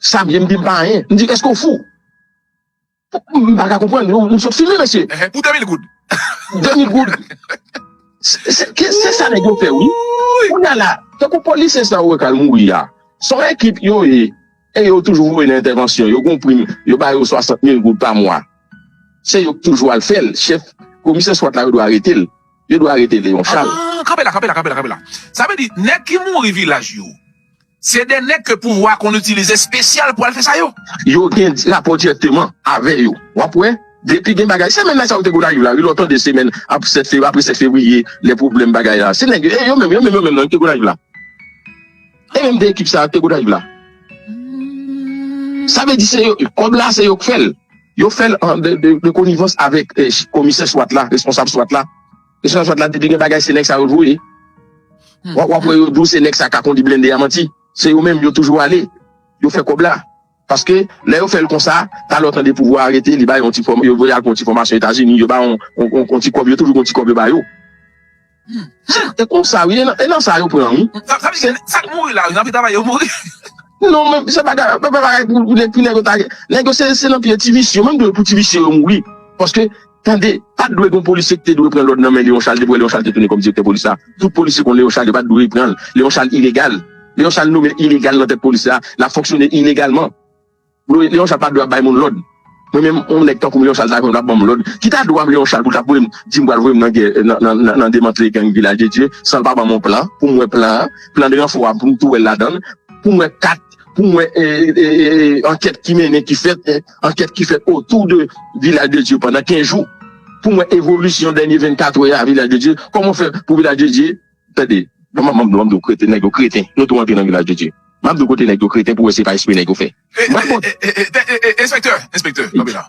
Xavier m di m pa anyen. M di eske w fou? M pa ka konprann. Nou sot fini mesye. Pou 2000 goud. 2000 goud. Se sa nèg yo fè wi. Kounya la, tankou polisye sa ou wè k al mouri a, se yon ekip yo ye e yo toujou voye nan entèvansyon. Yo gen yon prim, yo ba yo 60 mil goud pa mwa. Se yo k toujou al fè l. Chèf komisè swat la yo dwe arete l. Yo dwe arete Léon Charles. Kanpe la, kanpe la, kanpe la, kanpe la. Sa vle di nèg ki mouri vilaj yo. Se de nèg ke pouvwa konn itilize spesyal pou al fè sa yo. Yo gen rapò dirèkteman avè yo. Wap wè, depi gen bagay, semèn la sa yo te Gonayiv la wi, lè w tande semèn ap 7 fevri, apre 7 fevriye, lè pwoblèm bagay la, se nèg yo, e yo menm, yo menm yo menm nan ki te Gonayiv la. E menm 2 ekip sa yo ki te Gonayiv la. Sa vle di se yo, kòb la se yo k fè l. Yo fè l an de konivans avèk komisè swat la, responsab swat la. Kesyon swat la depi gen bagay se nèg sa yo voye. Wap wè yo di w se nèg sa ka kondi blende a manti. Se yo menm yo toujou ale. Yo fè kòb la. Paske lè yo fèl konsa talè w tande pouvwa a arete li bay yon ti fòm yo voye al pran yon ti fòmasyon etazini yo bay yon ti kòb yo toujou gen yon ti kòb yo ba yo. Se konsa wi e nan sa yo pran wi. Sa vle di gen sak mouri la wi nan pi travay yo mouri. Non men se pa bagay pou nèg yo ta gen. Nèg yo se nan pye ti visye yo menm dwe pou ti visye yo mouri. Paske. Tande, pat dwe gon polisye ki te dwe pran lòd nan men Leon Charles depi wè Leon Charles te tounen kòm direktè polis la. Tout polisye konn Leon Charles yo pat dwe pranl. Leon Charles ilegal. Leon Charles nome ilegal nan tèt polis la, lap fonksyone ilegalman. Leon Charles pat dwe ap bay moun lòd. Mwen menm yon nèg tankoum Leon Charles ta konn ap banm lòd, ki ta dwam Leon Charles poul tap voyem dim pral voyem nan gè nan demantle gang Vilaj de Dye sanl pa banm yon plan poum wè plan an, plan de ranfò a poum tou wèl ladann, poum wè kat. pou mwen ankèt ki mennen ki fèt ankèt ki fèt otou de vilaj de Dye pandan 15 jou pou mwen evolisyon dènye 24 wè a vilaj de Dye kòman fè pou vilaj de Dye tande map mande map mande kreten nèg yo kreten nou tou antre nan vilaj de Dye map mande kote nèg yo kreten pou wè se pa espre nèg yo fè enspektè enspektè kanpe la.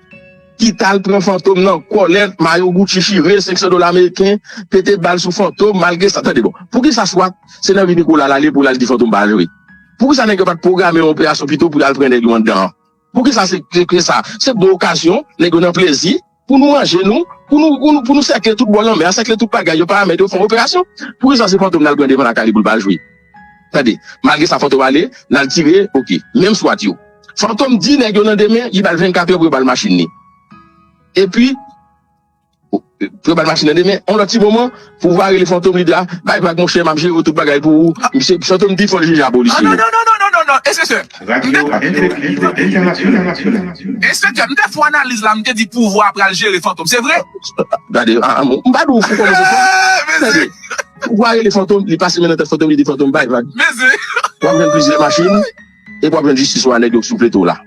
ki tal pran fantom nan kòlèt mayo Gucci chire 500 dola ameriken pete bal sou fantom malgre sa tande bon poukisa swat se nan vi Nicolas lale poul al di fantom pa jwe poukisa nèg yo pat pwograme yon operasyon pito pou yal pran nèg yo anndan an poukisa se ke sa se bon okazyon nèg yo nan plezi pou nou manje nou pou nou pou nou sèkle tout bò lanmè a sèkle tout bagay yo paramèt yo fon operasyon poukisa se fantom nal pran devan lakay li poul pa jwe. Tande. Malgre sa Fantom ale, lal tire ok. Menm swat yo. Fantom di nèg yo nan demen li bal 24 heures pou yo bal machin li. Epi pou yo bal machin nan demen. On lòt ti moman, Poovwa rele Fantom li di a, bay vag monchè map jere w tout bagay pou ou. Misye, Fantom di fòl jije a polisye yo. Nonnonnonnonnonnonnon Enspektè, m te fè Enspektè, m te fon analiz la, m te di Poovwa pral jere Fantom, se vre? Gade, m pa di w fou kòmanse fò. Eehh! Mesye! Pou wa rele fantom li pase men nan tèt fantom li di fantom bay vag wap jwenn plizyè machin epi wap jwenn jistis ou a nèg yo k sou pleto w la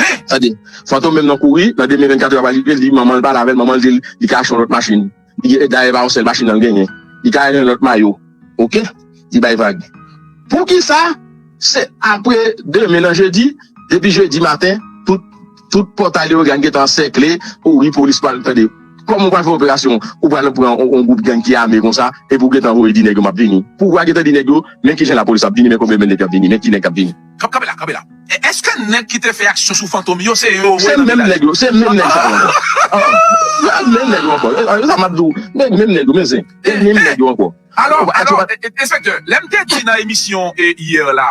hein tande fantom menm nan kouri nan demen 24 èr ap rive li di manman l pale avè l manman l di l li ka achte yon lòt machin li gen dayè e pa yon sèl machin nan l genyen li ka yon lòt mayo ok li bay vag poukisa se apre demen nan jedi depi jedi maten tout. Tout pòt a Leogane gentan ansèkle ou wi polis pral tande kòman ou pral fè operasyon ou pral pran yon gwoup gang ki ame konsa epi ou gentan voye di nèg yo map vini pou wa gentan di nèg yo men kijan lapolis ap vini men konbyen men nèg kap vini men ki nèg kap vini. Kanpe la kanpe la e eske nèg ki te fè aksyon sou fantom yo se yo ou wè nan vilaj la. Se menm nèg sa yo ankò se menm nèg yo ankò se sa map di w se menm nèg yo men zen se menm nèg yo ankò. Alò alò enspektè lèm te di nan emisyon hier la.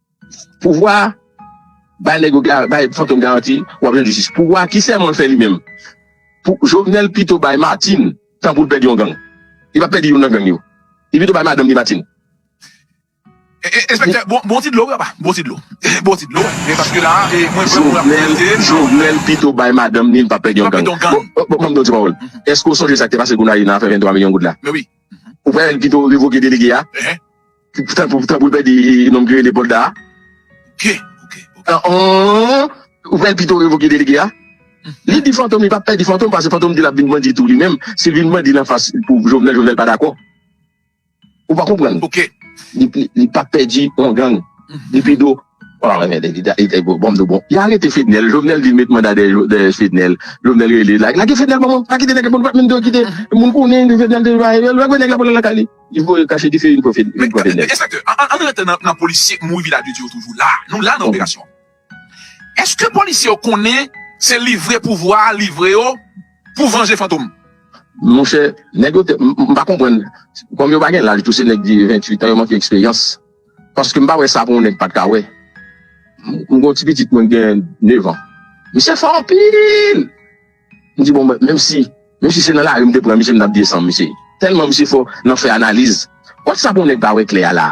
Pouvwa bay nèg yo bay fantom garanti wap jwenn jistis pouvwa ki sèmanl fè li menm pou jovenel pito bay martin tan poul pèdi yon gang li pap pèdi youn nan gang yo li pito bay madanm li martin. Enspektè bon ti dlo wi apa bon ti dlo bon ti dlo wi paske la mwen vre mwen ap koute jovenel pito bay madanm li li pap pèdi yon gang bon banm di yon ti pawòl eske ou sonje sak te pase gonayiv nan afè 23 milyon goud la ou pwè pito revoke delege a. Tanpri pa di nonm ki rele Polda a. Ok, ok, ok. Ou fè l pito revoke delege a? Li di Fantom li pa pè di Fantom pase Fantom di l ap vin bandi tou li menm. Si l vin bandi nan fas pou Jovenel, Jovenel pa dakò. Ou pa konprann? Ok. Li pa pè di yon gang. Li pito. Bon anmède li da. Bon nou bon. Yo arete Fednel. Jovenel vin met manda dèyè Fednel. Jovenel rele. Lage Fednel ban mwen. Pa kite nèg la pou nou pa menm te okite. Moun konnen Fednel te. Lage nèg la pou l al lakay li. Li voye kache dife vin pran Men men enspektè an an rete nan polisye mouri vila de dye yo toujou la nou la nan operasyon eske polisye yo konnen se livre pouvwa a livre yo pou vanje fantom. Monchè nèg yo te m pa konprann kòm yo pa gen laj tou se nèg 28 an yo manke eksperyans paske m pa wè sa pou yon nèg pat ka wè m gon ti pitit mwen gen 9 an misye fò anpil. M di bon mwen menm si menm si se nan lari m te pran misye m tap desanm mesye tèlman misye fò nan fè analiz watsapp yon nèg pa wè klè a la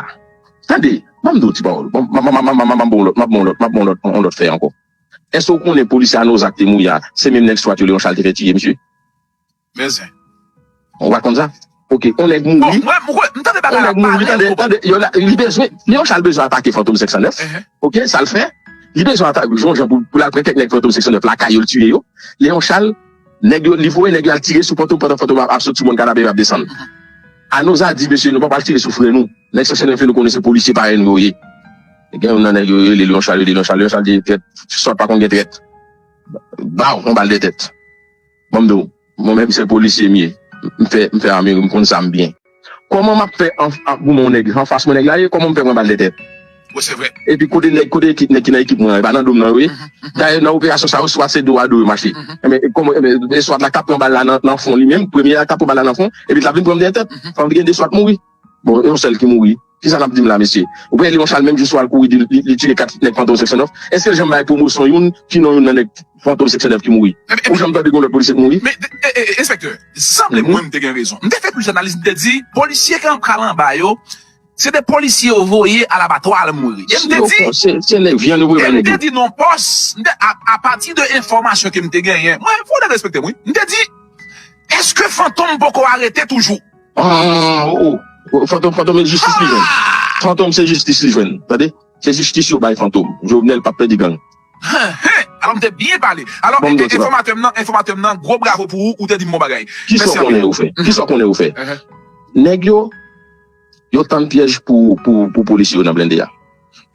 tande banm di w ti pawòl bon ma ma ma map bon w lòt map bon w lòt map bon w lòt yon lòt fè ankò èske w konnen polisye a nozak te mouri a se menm nèg swat yo leon chal te fè tiye misye men zen. Ou pa konn sa? Ok on nèg mouri Bon mwen mwen m tande On bagay la nèg mouri pale tande trop. tande yo la li bezwen li yon sa l bezwen atake fantom 509 Ehe. ok sa l fè li bezwen ata yon jan pou pou l al pran kèk nèg fantom 509 lakay yo l tiye yo Leon Charles nèg yo li voye nèg yo al tire sou fantom pandan fantom ap ap sot sou mòn kanabè yo ap desann Anozha di mesye nou pa pral tire sou frè nou nèg 509 yo nou konnen se polisye parèy nou yo ye gen yon nan nèg yo yo rele Leon Charles yo rele Leon Charles Leon Charles di trèt sòt pa konn gen trèt Baww on bal dètèt. Banm di w Mwen menm se polisye m ye M fè m fè ame wi m konn sa m byen. Kòman map fè anfas goumen yon nèg anfas mwen nèg la ye kòman m fè pran bal dè tèt Bon se vre. Epi kote nèg kote ekip nèg ki nan ekip mwen an e pa nan dom nan yo ye dayè nan operasyon sa yo swat se do a do yo mache enben e kòman enben e swat la k tap pran bal la nan nan fon li menm premye a k tap pran bal la nan fon epi l tap vin pran m dèyè tèt fòk gen de swat mouri bon yon sèl ki mouri. Kisa nap dim la mesye? Ou konnen Leon Charles menm jou swal kouri di li tiye 4 nèg Fantom seksyon 9, eskel janm bay pwomosyon youn ki non youn nan nèg Fantom seksyon 9 ki mouri? Ou janm tande gen yon lòt polisye k mouri? Men enspektè, sanble mwen mte gen rezon. Mte fè plis analiz mte di polisye ki anpral anba yo se de polisye yo voye alabatwa al mouri. E mte di Se nèg vyann yo voye bay nèg yo. E mte di non pòs, mte apati de enfòmasyon ke mte genyen, mwen fon nèg respektem wi, mte di eske Fantom poko arete toujou? Aah oh fantom fantom e jistis li jwenn fantom se jistis li jwenn tande se jistis yo bay fantom jovenel pap pèdi gang. Heheh alò m te byen pale alò enfòmatè m nan enfòmatè m nan gwo bravo pou ou ou te di m bon bagay mèsi anpil. Kisa w konnen ou fè nèg yo yo tann pyèj pou polisye yo nan blende a.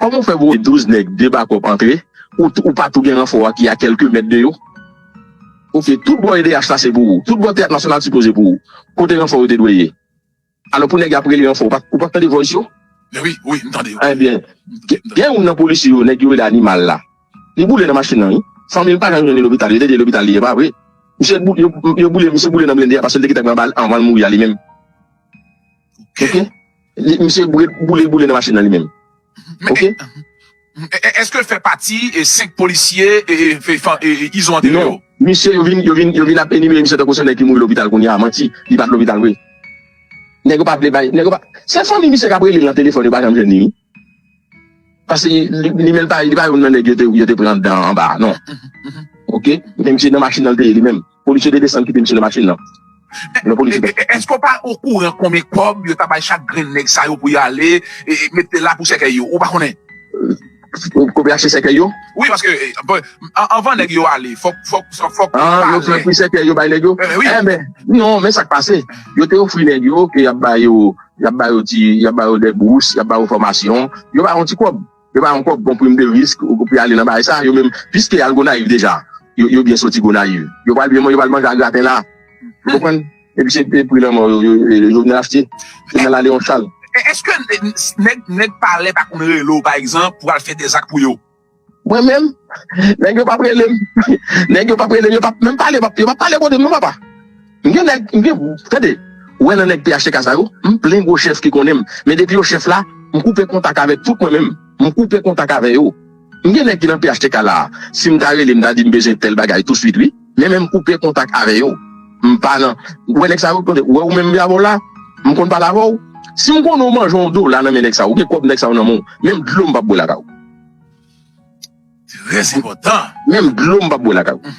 Kòman ou fè voye 12 nèg 2 bakòp antre ou pa tou gen ranfò a ki a kèlke mèt de yo? Ok tout bò edh la se pou ou, tout bò teyat nasyonal sipoze pou ou, kote ranfò yo te dwe ye? Alò pou nèg yo ap rele ranfò ou pa tande voice yo? Mwen wi, wi m tande yo. Enbyen gen youn nan polisye yo nèg yo rele animal la li boule nan machin nan wi, fanmi l pa janm jwenn li lopital yo te di e lopital li ye pa vre? Misye yo boule misye boule nan blende a paske l te gentan pran bal anvan l mouri a li menm. Ok. Li, misye boule, boule, boule nan machin nan li menm. Ok. Eske l fè pati 5 polisye Izo antere yo? Non. Misye yo vin, yo vin, yo vin ap enimere misye tankou se yon nèg ki mouri lopital kounye a. Manti. Li pa t lopital vre. Nèg yo pa vle bay, nèg yo pa Se fanmi misye k ap rele l nan telefòn yo pa janm jwenn li wi. Pase li menm li pa youn nan nèg yo te pran dan anba a non Ok men misye nan machin nan li te ye li menm Polis yo te desann kite misye nan machin nan Lè polis yo te Èske w pa okouran konbyen kòb yo ta bay chak grenn nèg sa yo pou yo ale mete la pou sèkèy yo ou pa konnen? Pou yo achte sèkèy yo? Wi paske anvan nèg yo ale fòk Fòk yo pale Yo pran pri sèkèy yo bay nèg yo? Enben non men sa k pase yo te ofri nèg yo ke y ap ba yo Y ap ba yo ti, y ap ba yo dè bous, y ap ba yo fòmasyon. Yo ba yo yon ti kòb. Yo ba yo yon kòb pou yon prim de risk pou yo ale nan bagay sa a. Yo menm, piske y al Gonayiv deja, yo byen soti Gonayiv. Yo pral byen, yo pral manje a graten la. Ou konprann? Epi se pri lanmò yo Jovenel achte. Se nan Laleon Chal. Èske nèg palè pa konn rele w, pa egzanp, pou w al fè dè zak pou yo? Mwen menm, nèg yo pap rele m, nèg yo pap rele m, yo pap menm pale, yo pap pale kote m non papa. M gen nèg, m gen, tande, ou wè nan nèg phtk sa yo, m plen gwo chèf ki konnen m, men depi yo chèf la, m koupe kontak avèk tout mwen menm, m koupe kontak avè yo. M gen nèg ki nan phtk la a, si m ta rele m ta di m bezwen tèl bagay touswit wi, men menm m koupe kontak avè yo. M pa nan, ou wè nèg sa yo, tande, ou wè ou menm Yavor la, m konn pale avè w, si m konnen ou manje yon dola nan men nèg sa yo, ou gen kòb nèg sa yo nan men w, menm dlo m pap bwè lakay ou. Très enpòtan. Menm dlo m pap bwè lakay ou.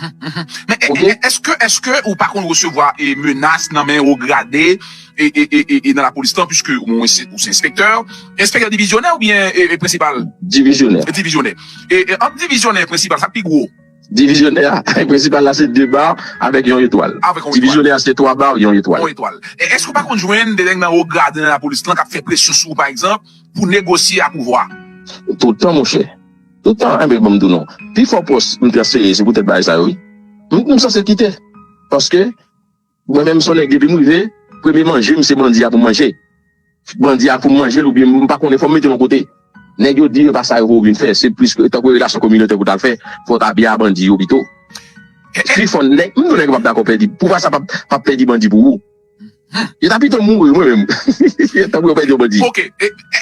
Men eske eske ou pa konn resevwa e menas nan men wo grade e nan lapolis lan puiske ou se enspektè? Enspektè divizyonè oubyen prensipal? Divizyonè. Divizyonè. E ant divizyonè e prensipal sak pi gwo? Divizyonè a, Règ prensipal la se 2 ba avèk yon etwal. Divizyonè a se 3 ba, yon etwal. E èske ou pa konn jwenn 2 nèg nan wo grade nan lapolis lan k ap fè presyon sou ou pa egzanp pou negosye ak pouvwa a? Toutan monchè, toutan. Enben ban m di w non. Pifò pòs m transfere se poutèt bagay sa yo wi. M sanse kite paske. Mwen menm son nèg depi m rive premye manje m se bandi a pou m manje bandi a pou m manje l oubyen m pa konnen fò m mete l yon kote nèg yo di e pa sa yo pou ou vin fè se plis tankou relasyon kominotè pou w ta l fè fò w ta byen a bandi yo pito pi fò nèg m di w nèg yo p ap dakò pèdi pou w fè sa p ap pèdi bandi pou ou yo ta pito mouri mwen menm tankou yo pèdi yon bandi. Ok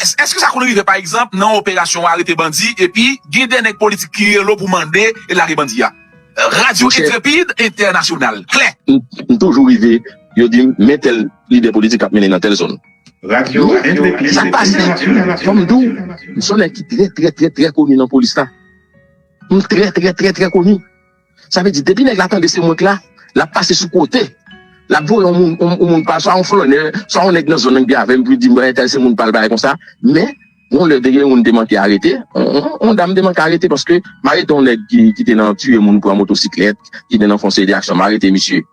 èske sa konn rive pa egzanp nan yon operasyon w arete bandi epi gen de nèg politik ki rele w pou mande lage bandi a? Radyo Entrepid Entènasyonal, klè. M toujou rive, yo di m, men tèl lidè politik ap mennen nan tèl zòn. Radyo Entrepid Entènasyonal, klè. Fò m di w, m s on nèg ki trè trè trè trè koni nan polis la. M trè trè trè trè koni. Sa vle di, depi nèg la tande se mwen k la, l ap pase sou kote. L ap voye on moun pa l, swa on flònè, swa on nèg nan zòn nan ki avè m pou l di m entèl se moun pa l, bagay konsa. Men. Yon lè te gen youn te manke arete, yon dam te manke arete paske m'arete yon nèg ki te nan tiye moun pran motosiklèt, ki te nan fon seri de aksyon, m'arete misye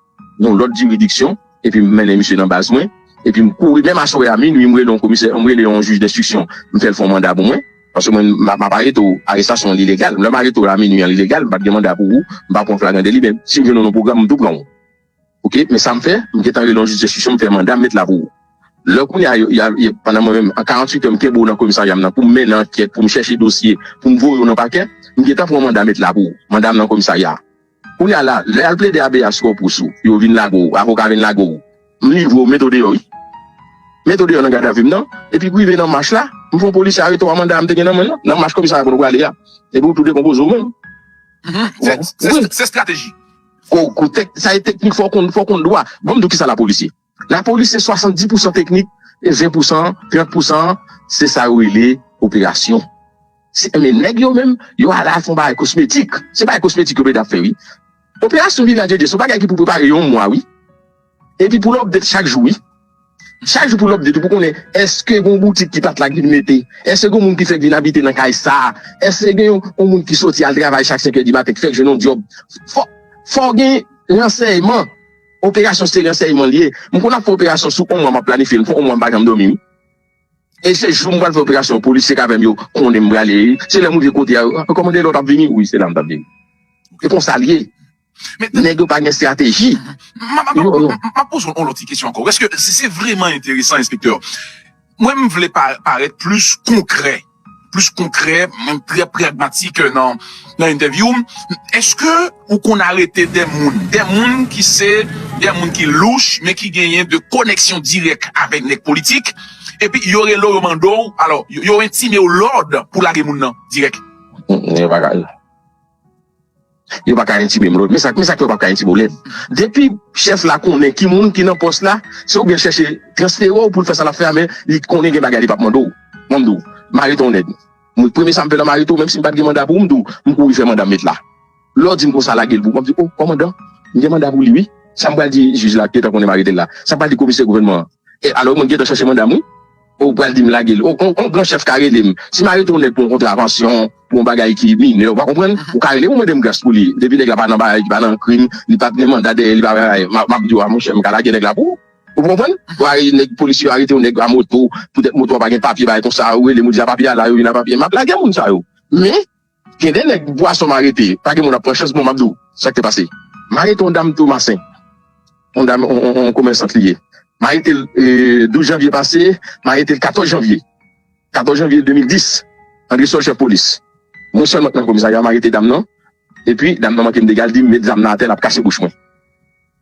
nan lòt jiridiksyon epi m'mennen misye nan baz mwen, epi m'kouri menm aswè a minui m'rele yon komisè, m'rele yon jij denstriksyon m'fèl fon manda pou mwen, paske mwen m'ap arete ou, arestasyon li legal, lè'm arete ou la minui an li legal, m'pat gen manda pou ou, m'pa pran flagrandeli men si m'jwenn ou nan pwogram m'tou pran ou. Ok men sam fè m gentan rele yon jij enstriksyon m fè manda m met la pou ou lè kounya pandan mwen menm an 48 è m kenbe w nan komisarya m nan pou m mennen ankèt pou m chèche dosye pou m voye w nan pakè m gentan pran yon manda met la pou ou manda m nan komisarya kounya la lè yal plede abeyas sou pwòp rous ou yo vin lage w avoka vin lage w m livre w m mete w deyò wi m mete w deyò nan gadavi m nan epi pou rive nan mach la m fè yon polisye arete w a manda a m te gen nan mwen nan nan mach komisarya kote w prale a epi ou tou dekonpoze w menm se strateji. Fòk sa e teknik fòk konn fòk konn dwa banm diw kisa lapolis ye lapolis se 70 pousan teknik e 20 pousan 30 pousan an se sa yo rele operasyon se men nèg yo menm yo ala fon bagay kosmetik se bagay kosmetik yo plede ap fè wi operasyon vilajeje se yon bagay ki pou prepare yon mwa wi. Epi pou l update chak jou wi. Chak jou pou l update pou konnen eske gon boutik ki pat la k vin mete, eske gon moun ki fèk vin abite nan kay sa, eske gen yon moun ki soti al travay chak senkè di maten k fèk jwenn yon dyòb. Fò fò w gen ransèyman. Operasyon se ransèyman l ye. M konn ap fè operasyon sou on mwa m ap planifye l. M fè on mwa m pa janm dòmi wi. E se jou m pral fè operasyon an polisye k avè m yo konnen m prale. Se lè m rive kote a yo, kòman gen lòt ap vini? Wi se la m t ap vini. E konsa l ye. Nèg yo pa gen strateji. Map poze w on lòt ti kesyon ankò. Eske se vreman enteresan enspektè? Mwen m vle parèt plis konkrè, plis konkrè, mwen trè pragmatik nan entèvyou m. Eske ou konn arete de moun, de moun ki se, de moun ki louch men ki genyen de koneksyon dirèk avèk nèg politik epi yo rele w yo mande w, alò yo entime w lòd pou lage moun nan dirèk? Yo pa ka. Yo paka entime m. Men sa k fè yo pap ka entime w lèd. Depi chèf la konnen ki moun ki nan pòs la, se oubyen l chèche transfere w pou l fè sa l ap fè a men li konnen gen bagay li pap mande w. Mwen m di w, mare ton nèg. Mwen premye sa m fè nan mare ton menm si m pat gen manda pou m di w, m kouri fè manda m met la. Lè w di m konsa lage l pou w, m ap di w, o, kòmandan, m gen manda pou li wi. Sa m pral di jij la ki gentan konnen m arete l la? Sa m pral di komisè gouvènman an? Alò mwen gentan chèche manda m wi. Ou pral di m lage l. On gran chèf ka rele m. Si m arete yon nèg pou yon kontravansyon, pou yon bagay ki minè, ou pa konprann, ou ka rele m, ou mande m gras pou li. Depi nèg la pa nan bagay ki pa nan krim, li pa gen manda dèyè li, pa gen bagay, m ap di w a monchè, m ka lage nèg la pou ou. Ou konprann? Ou arete nèg, polisye yo arete yon nèg a moto, poutèt moto a pa gen papye, bagay konsa, ou rele m, ou di a papye a la, yo vin a papye, m ap lage moun sa yo. Men, Gen de nèg bwason m arete pa gen moun ap pran chans bon map di w sak te pase m arete yon dam Tomasen yon dam yon komèsant li ye m arete l 12 janvye pase m arete l 14 janvye 14 janvye 2010 Andresòl chèf polis mwen sèlman k nan komisarya m arete dam nan epi dam nan manke m dega l di m met zam nan atè lap kase bouch mwen.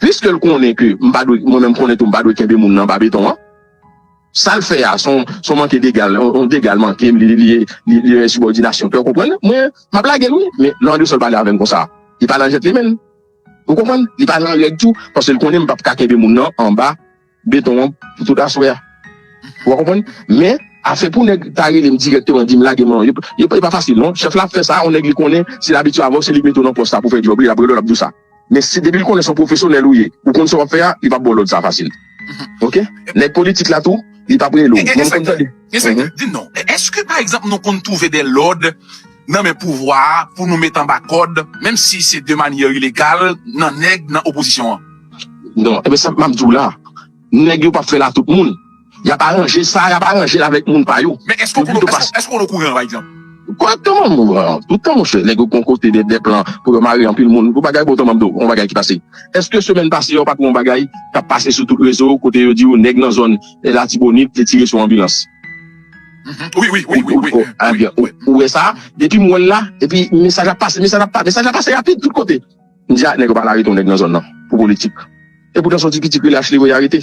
Piske l konnen ke m pa dwe, mwen menm m konnen tou m pa dwe kenbe moun nan anba beton an. Sa l fè a, s on manke dega, on dega l manke m, li ye, li yon ensibòdinasyon ke w konprann. Mwen, m ap lage l wi, men lè Andresol pale avè m konsa, li pa nan jèt li menn. Ou konprann? Li pa nan règ tou, paske l konnen m p ap ka kenbe moun nan anba. beton an pou tout aswè a wap konprann men afè pou nèg ta relem dirèkteman dim lage mwen yo yo pa fasil non chèf la ap fè sa on nèg li konnen si l abitye avèw se li k mete w nan pòs la pou fè djòb li lap rele w lap diw sa men si depi l konnen se yon pwofesyonèl ou ye ou konn sa wap fè a li pap baw lòd sa fasil ok nèg politik la tou li pap rele w mwen m konn tande. Enspektè, dim non, èske pa egzanp nou konn twouve de lòd. nan men pouvwa a pou nou met anba kòd menm si se de manyè ilegal nan nèg nan opozisyon an. Non e sa map diw la nèg yo pap fèl a tout moun yap aranje sa yap aranjel avèk moun pa yo. Men èske ou konn okouran pa egzanp. Kòman m okouran toutan monchè nèg yo gon kote de plan pou yo mare anpil moun pou bagay bon tanman on bagay ki pase èske semèn pase yo pat wè on bagay kap pase sou tout rezo kote yo diw nèg nan zòn latibonit te tire sou anbilans. Ou wè sa depi m wèl la epi mesaj ap pase mesaj ap pase mesaj ap pase rapid tout kote m di a nèg yo pral arete yon nèg nan zòn nan pou politik epoutan son ti pitit rele Achley yo ye arete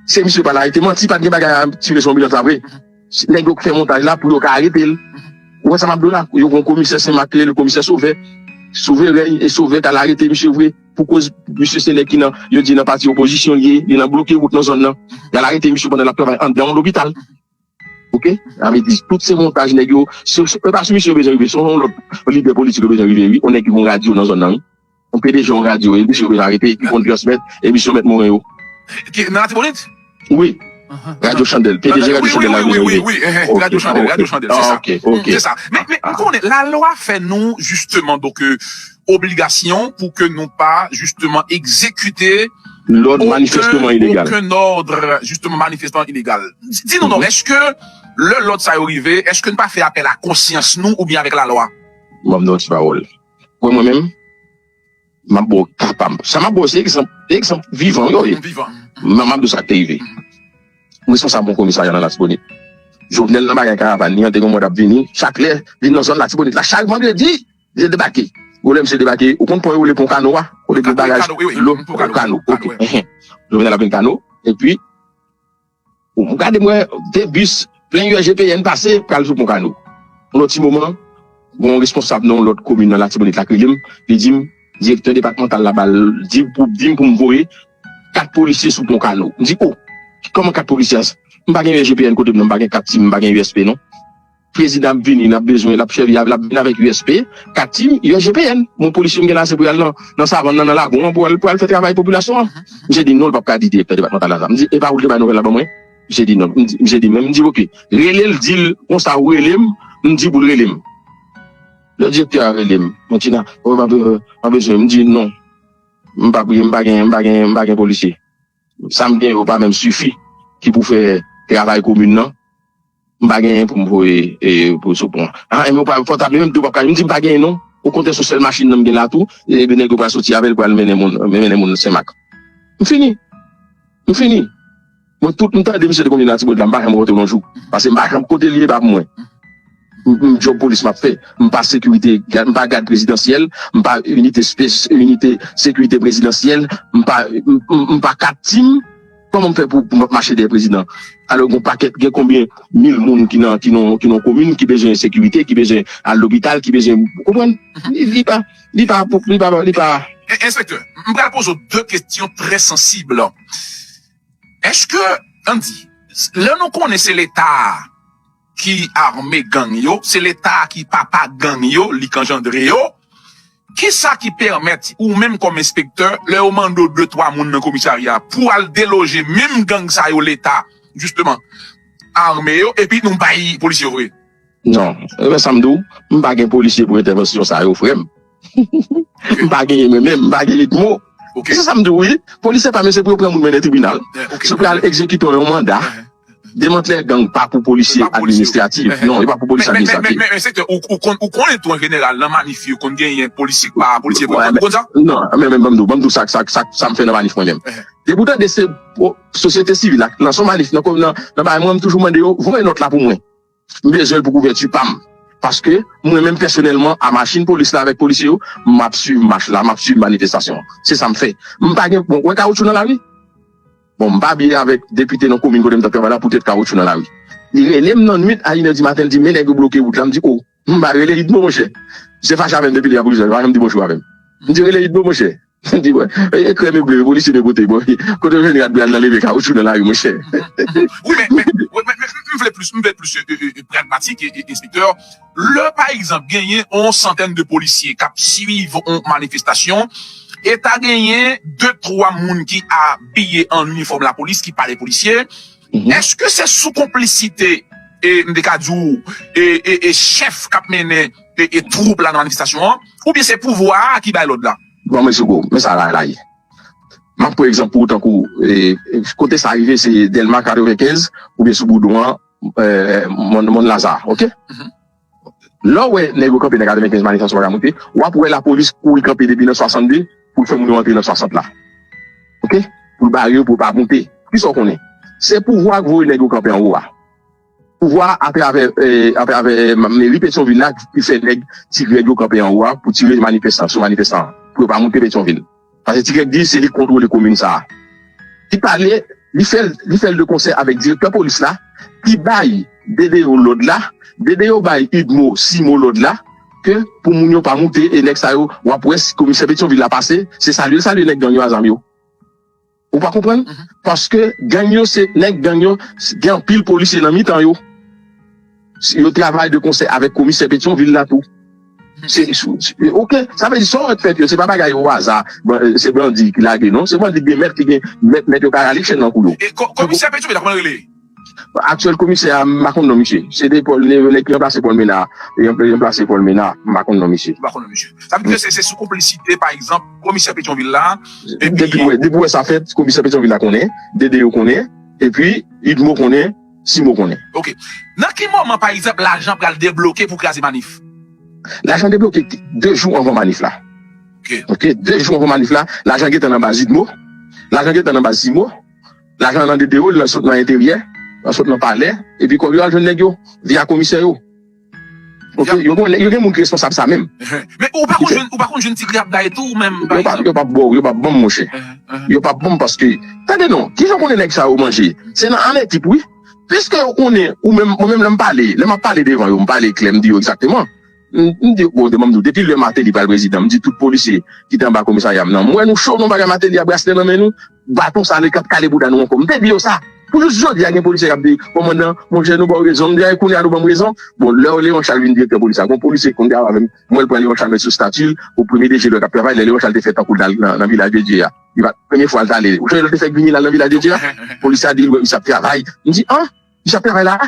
se misye yo pral arete manti pat gen bagay a tire sou anbilans la vre nèg yo k fè montaj la pou yo ka aretel ou wè sa map di w la yo gon komisè senmak rele komisè sovè sove rèy e sove t al arete misye vre. Pou koz misye se nèg ki nan, yo di nan pati opozisyon li ye, li nan bloke wout nan zòn nan. Y'al arete misye pandan l'ap travay anndan yon lopital. Ok, sa vle di tout se montaj nèg yo, se pa sou misye yo bezwen rive, se yon lòt lidè politik yo bezwen rive wi, yon nèg ki gen yon radyo nan zòn nan wi. Yon pdg yon radyo e misye yo bezwen arete, ki konn transmèt emisyon mèt Moren yo. Nan Latibonit? Wi Radio chandel pdg radio chandel la vini wi ok se sa men m konnen la lwa fè nou jisteman donke obligasyon pou ke nou pa jisteman egzekite lòd manifesteman ilegal okenn òd jisteman manifesteman ilegal di nou non eske lè lòd sa yo rive eske nou pa fè apèl a konsyans nou oubyen avèk la lwa m ap di yon ti pawòl mwen menm. M ap ba w ka pa m. Sa m ap ba w se egzanp, egzanp vivan yo ye. M ap di w sa k te rive. Responsab yon komisarya nan Latibonit. Jovenel nan bagay karavàn li an te gen yon mòd ap vini chak lè vin nan zòn Latibonit la. Chak vandredi li te debake. Gwo lè misye debake, ou konn pon yo rele pon Kano a? Kote gwo bagaj dlo, pon Kano. Jovenel ap vin Kano epi. Ou gade m wè 2 bis plen USGPN pase pral sou pon Kano. Pou yon ti moman, gen yon responsab nan yon lòt komin nan Latibonit la k rele m, li di m direktè depatmantal la ba l di pou di m pou m voye 4 polisye sou pon Kano. M di o! Kòman 4 polisye? M pa gen USGPN kote m nan, m pa gen kat sim, m pa gen USP non. Prezidan ap vini nap bezwen lap sèvi avèl ap vin avèk USP, Katim, USGPN bon polisye m gen la se pou yal nan savann nan nan lagon an pou al pou al fè travay popilasyon an misye di non li pap ka di direktè depatmantal la sa m di epa ou t k bay nouvèl la ban mwen misye di non misye di men m di ok relel dil konsa ou rele m m di pou l rele m lè direktè a rele m mwen di nan ou pa bezwen m pa bezwen m di non m pa m pa gen m pa gen m pa gen polisye sa m gen yo pa menm sifi ki pou fè travay komin nan. M pa genyen pou m voye pou sou pon an. Enben ou pral pòtable menm tou ou pap ka jwenn. M di m pa genyen non. Okontrè se sèl machin nan m gen la tou. E de nèg yo pral soti avè l pral mennen moun mennen moun Senmak. M fini. M fini. Mwen tout m tande misye te konn vin Latibonit la m pa janm rantre yon jou. Pase m pa janm kote l ye pa pou mwen. M djòb polis m ap fè. M pa sekirite m pa gad prezidansyèl. M pa inite sekirite prezidansyèl. M pa m pa kat tim. Koman m fè pou m ap mache dèyè prezidan alò gen yon pakèt gen konbyen mil moun ki nan ki nan ki nan komin ki bezwen sekirite ki bezwen al lopital ki bezwen ou konprann li pa li pa pou li pa li pa. Enspektè, m pral poze w 2 kesyon trè sansib. Èske, ann di, lè nou konnen se leta a. ki arme gang yo se leta ki papa gang yo li k anjandre yo kisa ki pèmèt ou menm kòm enspektè lè yo mande w 2 3 moun nan komisarya pou al deloje menm gang sa yo leta jisteman arme yo epi nou bay polisye yo vre. Non, men sa m di w, m pa gen polisye pou entèvansyon sa yo frè m. M pa genyen mwen menm, m pa gen lit mo. Se sa m di w wi, polisè pa men se pou yo pran moun mennen tribinal. Yo pral egzekite yon manda demantlè gang pa pou polisye administratif non, yo pa pou polisye administratif. Men enspektè, ou konnen tou an jeneral nan manif yo konn genyen polisye k pa polisye vre, ou konn sa? Non, men ban m di w, ban m di w sa m fè nan manif mwen menm. Depi w tande se sosyete sivil ak nan son manif, nan bagay mwen m toujou mande yo voye nòt la pou mwen. M bezwenl pou kouvèti pam paske mwen menm pèsonèlman a machin polis la avèk polisye yo map swiv mach la map swiv manifestasyon an se sam fè m pa gen bon wè kawoutchou nan lari bon m pa byen avèk depite nan komin kote m tap travay la poutèt kawoutchou nan lari li relem nan nwit a inè di maten li di men nèg yo bloke wout la m di oh m pa rele idmo monchè se fache avèm depi lè a polisye yo pa janm di bonjou avèm m di rele idmo monchè. Di mwen, e krèm e ble yo polisye dwe pote? Bon, kote yo jwenn rad Brad nan leve kawoutchou nan lari monchè? Wi men, men, m vle plis, m vle plis pragmatik enspektè. Lè pa egzanp genyen yon santèn de polisye k ap swiv yon manifestasyon e ta genyen de twa moun ki abiye an inifòm lapolis ki pale polisye, èske se sou konplisite, m te ka di w, chèf k ap mennen. e twoup la nan manifestasyon an oubyen se pouvwa a ki bay lòd la? Bon men Sego, men sa la la ye. M ap pran egzanp pou ou tankou kote sa rive se Dèlma 95 oubyen sou Boudon an, Mòn Laza ok. Lè w wè nèg yo kanpe nan 95 manifestasyon pa ka moute, w ap wè lapolis kouri kanpe depi nan 62 pou l fè moun yo antre nan 60 la ok, pou l bare yo pou yo pa moute. Kisa w konnen? Se pouvwa a k voye nèg yo kanpe anwo a. Pouvwa a atravè meri Petyonvil la ki fè nèg Ti Grèg yo kanpe anwo a pou tire sou manifestan pou yo pa moute Petyonvil. Pase Ti Grèg di se li k kontwole komin sa a. Li pale, li fè l de konsè avèk direktè polis la ki bay Dedeo lòd la, Dedeo bay Udmo Simo lòd la ke pou moun yo pa moute e nèg sa yo w ap wè si komisè Petyonvil la pase se salye l salye nèg gang yo a zam yo. Ou pa konprann? Paske gang yo se nèg gang yo gen anpil polisye nan mitan yo. Yo travay de konsè avèk komisè Petyon vil la tou. Se ok, sa vle di sa ou wè k fèt yo se pa bagay o aza, se bandi ki lage non, se bandi ki gen mèt, ki gen mèt mèt yo ka rale chèn nan kou yo. E komisè Petyon vil la kòman l rele? Aktyèl komisè a m pa konn non misye. Se te Paul Nevelet ki ranplase Paul Menard. Li ranplase Paul Menard. M pa konn non misye. Ou pa konn non misye. Sa vle di se sou konplisite pa egzanp komisè Petyonvil la epi. Depi ou wè sa fèt komisè Petyonvil la konnen, Dede yo konnen epi Udmo konnen, Simon konnen. Ok. Nan ki moman pa egzanp lajan pral debloke pou kraze manif? Lajan debloke 2 jou anvan manif la. Ok. Ok. 2 jou anvan manif la lajan gentan nan baz Udmo, lajan gentan nan baz Simon, Lajan nan de dewo, li al sot nan enteryè, al sot nan palè, epi kòb yo al jwenn nèg yo, via komisè yo. Ok, yo gen nèg, yo gen moun ki responsab sa menm. Men ou pa konn jwenn, ou pa konn jwenn ti pri ap bay tou ou menm? Yo pa, yo pa baw, yo pa banm monchè. Yo pa banm paske, tande non, kijan ou konnen nèg sa yo manje? Se nan anekip wi. Piske yo konnen ou menm, mwen menm lè m pale, lè m ap pale devan yo, m pale klè, m di yo egzakteman. M di bon demen m di w depi lè Martelly pral prezidan m di tout polisye ki te anba komisarya m nan m wè nou cho nou bagay Martelly a braslè nan men nou baton sa le kap kale bouda nou ankò m te di yo sa pou jous jodi a gen polisye kap di kòmandan monchè nou ba w rezon m di a e kounye a nou ban m rezon bon lè Léon Charles vin direktè polis la gon polisye konn gade avè m m wè l pran Léon Charles met sou stati l pou premye DG lè l tap travay lè Léon Charles te fè tankou l t al nan vilaj de Dye a li pat premye fwa l t ale ou sonje lè l te fèk vini l al nan vilaj de Dye a polisye a di l wè misye ap travay m di an misye ap travay la a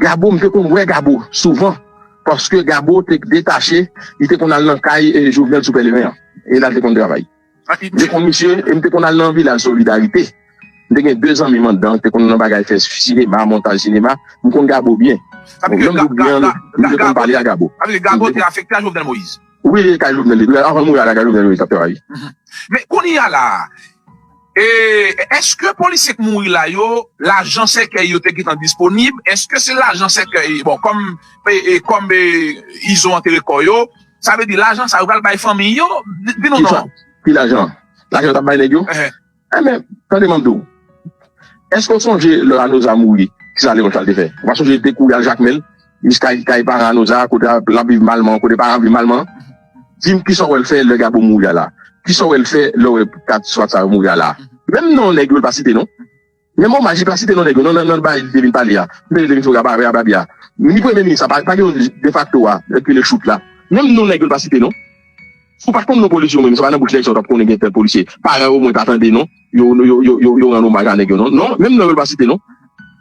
Gabo m te konn wè Gabo souvan paske Gabo te detache li te konn al nan kay Jovenel sou Pèleren an e la l te konn travay. M te konn misye e m te konn al nan Vilaj Solidarite. M te gen 2 zanmi m anndan ki te konn nan bagay fè sinema, montaj sinema. M konn Gabo byen. Sa vle di ke Gabo, m te konn pale a Gabo. Sa vle di Gabo te afekte a Jovenel Moïse? Wi, li te kay Jovenel depi avan l mouri a la kay Jovenel Moïse l t ap travay. Men, kounye a la a. E eske polisye k mouri la yo lajan sèkèy yo te gentan disponib eske se lajan sèkèy bon kòm e kòm e izo antere kò yo sa vle di lajan sa yo pral bay fanmiy yo di nou non. Ki lajan? Lajan yo tap bay nèg yo? Enben tande map diw eske w sonje lè Anoza mouri kisa Leon Chal te fè ou pa sonje li te kouri al jakmel Miss kay kay paran nou sa kote lap viv malman kote paran viv malman dim kisa ou wèl fè lè gabo mouri a la kisa ou wèl fè lè ou wè kat swa sa yo mouri a la menm non nèg yo li pa site non menm omaj li pa site non nèg yo nan nan bagay li te vin pale a li te vin fè a a babi a ni premye minis la pa gen yon defakto a ki rele chout la menm non nèg yo li pa site non ou pa konn non polisye ou menm se pa nan bouch nèg sa ou tap konnen gen tèl polisye paran ou mwen pa tande non. yo rann omaj a nèg yo non non menm non yo l pa site non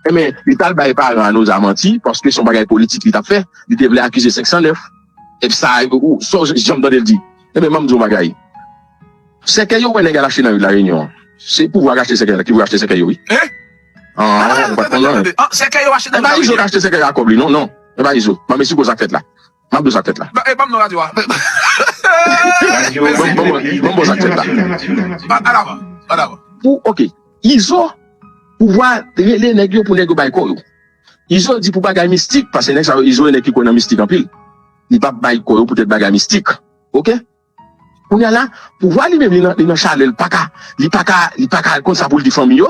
enben li t al bay paran a Noza manti paske s on bagay politik li t ap fè li te vle akize 509 èp sa ou so janm tande l di enben ban m di w on bagay sèkèy yo wè nèg al achte nan ri de la Réunion an se pouvwa k achte sèkèy la ki vle achte sèkèy yo wi an ou pa t konn non e pa izo k achte sèkèy a ak kòb li non non e pa izo banm esplike w sa k fèt la. Map bezwen ak tèt la. Banm non radio a. Mesi. Banm boz ak tèt la. An avan. An avan. Pou ok. Izo pou vwa rele neg yo pou neg yo bay ko yo. Izo di pou bagay mistik pase neg sa yo izo e neg ki kwe nan mistik anpil. Li pap bay ko yo pou tet bagay mistik. Ok. Kounya la pouvwa li menm li nan chalèl paka li paka li paka konn sa poul di fanmi yo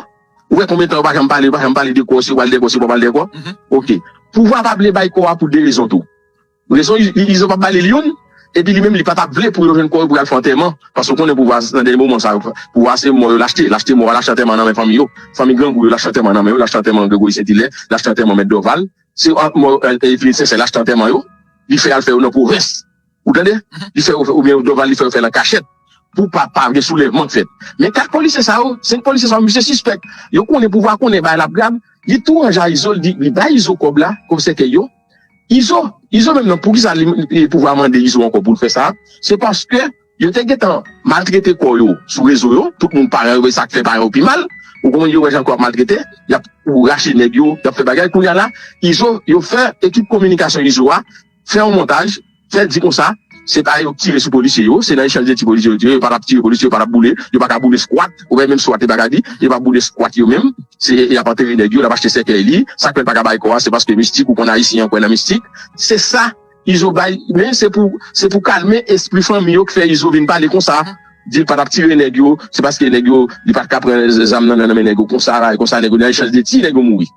ou wè konbyen tan yo pa janm pale yo pa janm pale de kò si yo pral dèkò si yo pa pral dèkò ok pouvwa pa vle bay kò a pou 2 rezon tou rezon izo pa balil youn epi li menm li patap vle pou yo jwenn kò yo pou yal fè antèman paske ou konnen pouvwa nan dènye moman sa pouvwa se mò yo lachte lachte mò a lachte antèman nan men fanmi yo fanmi grangou yo lachte antèman nan men yo lachte antèman Gregory Saint Hilaire lachte antèman mèt Dorval se mò Eveline Sincère lachte antèman yo li fè yal fè yo nan pwovens. Ou tande? Li fè yo fè oubyen Dorval li fè yo fèl an kachèt pou pa pa gen soulèvman k fèt. Men 4 polisye sa yo, 5 polisye sa yo misye sispèk. Yo konnen pouvwa konnen bagay la ap grav. Li tou ranje a Izo li di li bay Izo kòb la, komisè Keïo. Izo, Izo menm nan poukisa li li pouvwa mande Izo ankò pou l fè sa? Se paske yo te gentan maltrete kò yo sou rezo yo, tout moun paran yo wè sa k fè paran yo pi mal. Ou konprann yo wè jan kò ap maltrete, y ap rache nèg yo, y ap fè bagay. Kounye a la Izo, yo fè ekip kominikasyon Izo a. Fè yon montaj, fè di konsa se pa yo k tire sou polisye yo, se nan echanj de ti polisye yo tire, yo pa tap tire polisye, yo pa tap boule, yo pa ka boule squat, ou wè menm squat li pa ka di, yo pa boule squat yo menm, se yap antere nèg yo, lap achte sèkèy li, sak fè l pa ka bay kò a se paske mistik ou konn ayisyen an kwè nan mistik, se sa Izo bay men se pou se pou kalme espri fanmi yo k fè Izo vin pale konsa, di l pa tap tire nèg yo, se paske nèg yo li pat ka pran zam nan nan men nèg yo konsa, konsa nèg yo nan echanj de ti nèg yo mouri.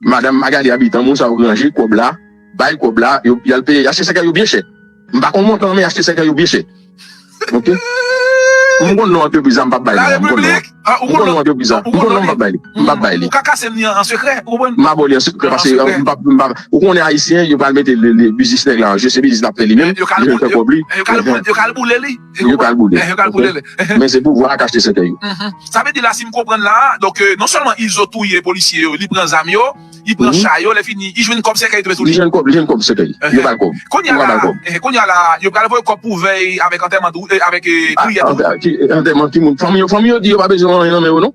Madame Magalie Habitant moun sa yo ranje kob la bay kob la yo yal peye achte sèkèy yo byen chè m pa konn montan an men achte sèkèy yo byen chè ok m konn non antrepriz la m pap bay non an m konn non an m konn non antrepriz la m konn non m pap bay li m pap bay li m abo li an sekrè pase m pap m pap ou konnen ayisyen yo pral mete biznis nèg la an je se biznis lap fè li menm li menm fè kob li yo kal boule li. Yo pral boule. Yo pral boule le. Men se pouvwa a k achte sètèy yo. Sa vle di la si m konprann la a, donk non sèlman Izo touye polisye yo, li pran zam yo, li pran cha yo, lèfini li jwenn kòb sèkèy tou tou li. Li jwenn kòb sèkèy. Yo bal kòb. Kounya la a, kounya la a yo pral voye kòb pou vèy avèk antèman tou, avèk priyè tou wi. Antèman ki moun? Fanmi yo, fanmi yo di yo pa bezwen anyen nan men yo non.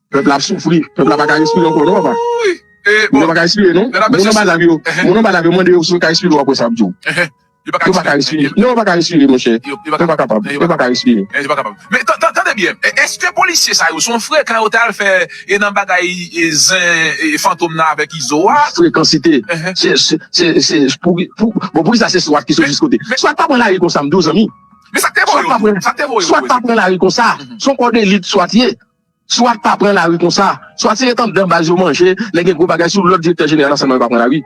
Pèp la ap soufri, pèp la pa ka respire ankò non papa. Moun yo pa ka respire non. Moun anba tab yo, moun anba tab yo mande yo si yo ka respire ou wap wè sa yap di w. Yo pa ka respire. Non yo pa ka respire monchè. Yo pa kapab. Yo pa ka respire. Yo pa kapab. Men tande byen, eske polisye sa yo son frekan yo te al fè nan bagay zen fantom nan avèk izo a? Frekansite. Se pou bon poukisa se swat ki sot jis kote. Swat pa pran lari konsa m di w zanmi. Men sak te voye yo? Sak te voye yo? Swat pa pran lari konsa. Son kò delit swat ye. Swat pa pran lari konsa, swat se ret andan baz yo manje, lè gen gwo bagay sou lòd direktè jeneral ansèyman yo pa pran lari.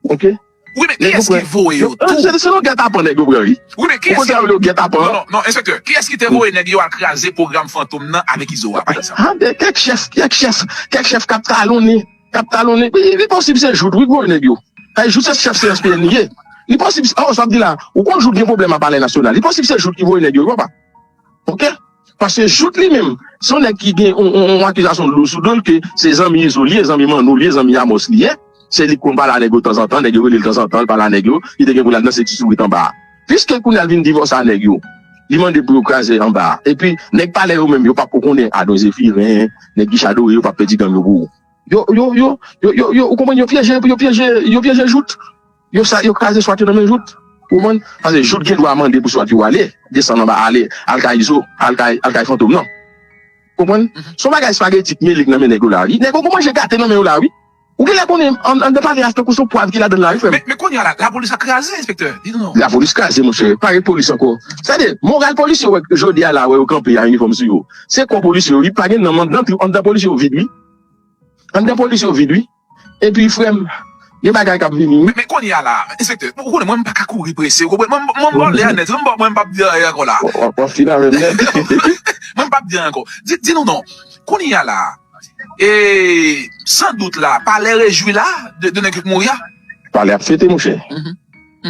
Ok. Wi men kiyès ki voye yo tou? Se selon gètapan nèg yo pran wi. Ou konn sa yo rele gètapan? Non non enspektè, kiyès ki te voye nèg yo al kraze pwogram fantom nan avèk izo a pa egzanp? Ha gen kèk chèf, kèk chèf, kèk chèf k ap talonnen, k ap talonnen wi, li posib se Jout wi k voye nèg yo. Paske Jout se chèf CSPN li ye. Li posib, oh sa w ap di la, ou konn Jout gen pwoblèm a palè nasyonal, li posib se Jout ki voye nèg yo wi papa. Ok. Paske Jout li menm, se yon nèg ki gen yon akizasyon lou sou do l ke se zanmi Izo li ye, zanmi Manno li ye, zanmi Amòs li ye. Se li k konn pale a nèg yo tanzantan, nèg yo rele l tanzantan, l pale a nèg yo, li te gen pou l al danse ti sourit anba a. Piske kounye a l vin divòse a nèg yo, li mande pou yo kraze anba a. Epi, nèg palè yo menm, yo p ap ko konnen Adon Zefiren, nèg Guicha Dore yo p ap pèdi gang yo pou. Yo, yo, yo, yo, yo, yo, ou konprann, yo pyeje, yo pyeje, yo pyeje Jout. Yo sa yo kraze swat yo nan men jout ou man pase jout gen dwa mande pou swat yo ale desann anba ale al kay izo al kay al kay fantom nan ou konprann son bagay spageti k mele k nan men nèg yo la wi nèg yo gon manje gate nan men yo la wi ou genlè konnen an dan pale a tankou son pwav ki ladan l la wi frè m. Men kounye a la lapolis ap kraze enspektè di nou non. Lapolis kraze monchè pa gen polis ankò sa de moral polisye yo wè jodi a la wè yo kanpe a inifòm sou yo se kò polisye yo wi pa gen nanm an dan tou an dan polisye yo vid wi an dan polisye yo vid wi. Epi frèm gen bagay kap vini wi. Men kounye a la a enspektè ou konnen mwen m paka kouri prese ou konprann m mwen baw lè a nèt mwen m pap di anyen ankò la a. Wap wap fin avèm nèt. Mwen m pap di anyen ankò. Di di nou non kounye a la a e san dout la a palè rejwi la a de de nèg ki t mouri a? Palè ap fete monchè.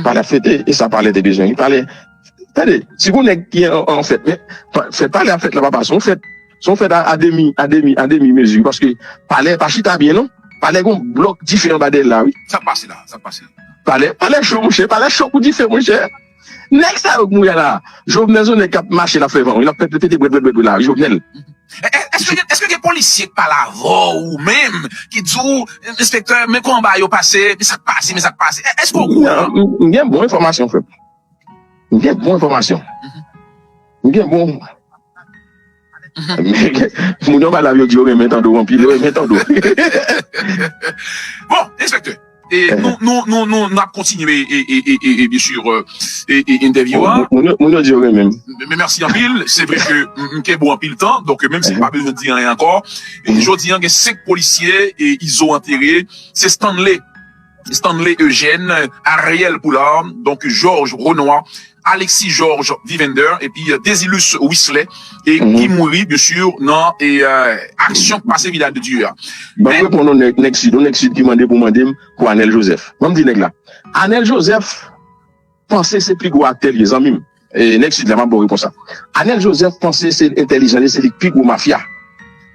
Palè ap fete e sa palè te bezwen wi palè. Tande, si gon nèg ki an fèt, men fèt palè a fèt la papa, son fèt, son fèt a demi, a demi, a demi mezi paske palè pa chita byen non, palè gon blòk dife anba dèyèl la wi. Sak pase la, sak pase la. Palè, palè cho monchè, palè cho kou dife monchè. Nèg sa yo k mouri a la, Jovenel son nèg kap mache lap fè van wi, lap fè pete bwèt bwèt bwèt wi la wi Jovenel. Eske gen, eske gen polisye k pale avè w ou menm ki di w enspektè men konba yo pase, men sak pase, men sak pase, eske w okouran? M gen bon enfòmasyon frè m. M gen bon enfòmasyon. M gen bon. Moun anba tab yo di yo renmen Tando anpil. Yo renmen Tando. Bon, enspektè, nou ap kontinye byensu entèvyou an. Moun yo di yo renmen m. Mèsi anpil. Se vre ke m kenbe w anpil tan. Donk, menm si m pa bezwen di anyen ankò, jodi an gen 5 polisye Izo antere. Se Stanley. Stanley Eugène, Ariel Poulard, donk Georges Renois, Alexis Georges Vivender epi Désilus Wisley e ki mouri byen sur nan aksyon k pase Vidal de Dieu a. Banm reponn non nèg nèg sid on nèg sid ki mande pou mandem pou anel joseph banm di nèg la anel joseph. Panse se pi gwo aktè li ye zanmim nèg sid la map baw repons la Anel Joseph panse se entèlijan li se li ki pi gwo mafya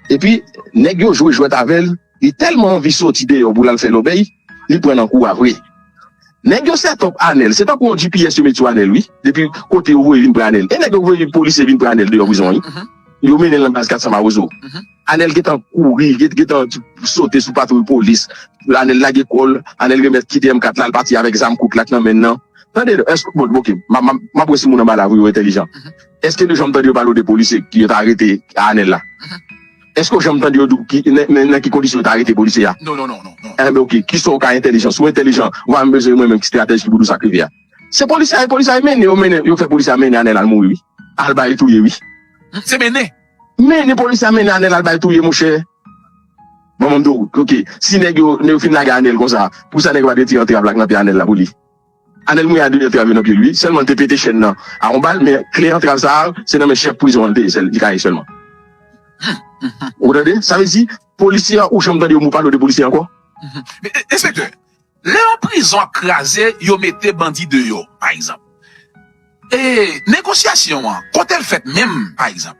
epi nèg yo jwe jwèt avèl li tèlman anvi soti deyò pou lal fè lòbèy li pran nan kou a vre nèg yo sètòp Anel se tankou yon gps yo met sou Anel wi depi kote yo voye vin pran Anel e nèg yo voye polisye vin pran Anel deyò prizon an wi yo mennen nan baz 400 mawozo. Anèl gentan kouri, li gentan sote sou patwouy polis, Anèl lage kò l, Anèl remèt kite M 4 la, l pati avèk zam kout la k nan men l lan. Tande, èske, bon ok, m ap wè si moun anba la yo entèlijan. Èske nou janm tande yo pale w de polisye ki yo ta arete Anèl la? Èske w janm tande yo di w ki, nan ki kondisyon yo ta arete polisye a? Non, non, non, non, non. Enben ok, ki sa w ka entèlijan? Si w entèlijan, w va menm bezwen di mwen menm ki stratèj ki pou di w sa k rive a. Se polisye a, e polisye a e mennen, yo mennen, yo fè polisye a mennen Anèl al mouri wi, al ba yo touye wi. Se mennen? Mennen polis la mennen anel al bay touye monchè bon mwen mndew ok si nèg yo nèg yo fin lage anel konsa pousa nèg yo pa t retire antrav la k nan pye anel la pouli anel mouye a 2 antrav yo nan pyel wi sèlman l te pete chèn nan a yon bal men kle antrav sa se nan men chèf prizon an l te ye sèl li ka ye sèlman ou tande sa vle di polisye a ou janm tande yon mo pale w de polisye ankò. Enspektè. Lè yon prizon ap kraze, yo mete bandi deyò, pa egzanp. E negosyasyon an, kote l fèt menm, pa egzanp?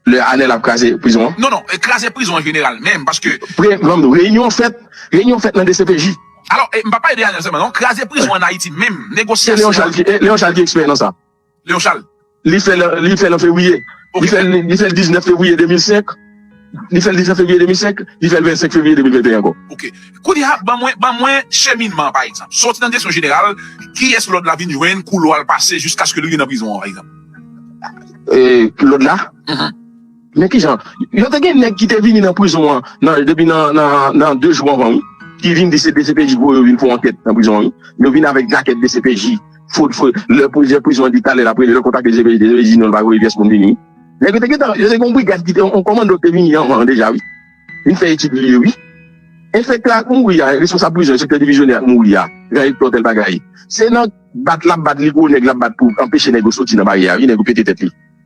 Lè a lè l ap kraze prizon an? Non, non, kraze prizon an jeneral menm, paske. Premye, reyinyon fèt, reyinyon fèt nan dcpj. Alò, m pa pale de Ariel sèlman non, kraze prizon an Ayiti menm, negosyasyon an. Se Leon Charles ki ekspè nan sa. Léon Charles. Li fè l an fevriye. Li fè l 19 fevriye 2005. Li fè l 19 fevriye 2005. Li fè l 25 fevriye 2021 ankò. Ok. Kounye a, ban mwen cheminman an, pa egzanp. Soti nan direksyon jeneral, kiyès lòd la vin jwenn, koulwa l pase jiskaske l rive nan prizon an, pa egzanp. Lòd la? Men kijan yo te gen nèg ki te vini nan prizon an nan depi nan nan 2 jou anvan wi ki vin di se dcpj voye yo vin fè ankèt nan prizon an wi yo vin avèk jakèt dcpj fot fo lè pwojè prizon an di talè lap rele lap kontakte dcpj dcpj di non li pa voye pyès moun vini wi nèg yo te gentan yo te gen yon brigad ki te yon kòmando ki te vini anvan an deja wi vin fè etid lye wi enfektè a ak mouri a responsab prizon an enspektè divizyonè a ak mouri a gran Hector tèl bagay se nan bat lap bat li gwo nèg lap bat pou anpeche nèg yo soti nan baryè a wi nèg yo pete tèt li.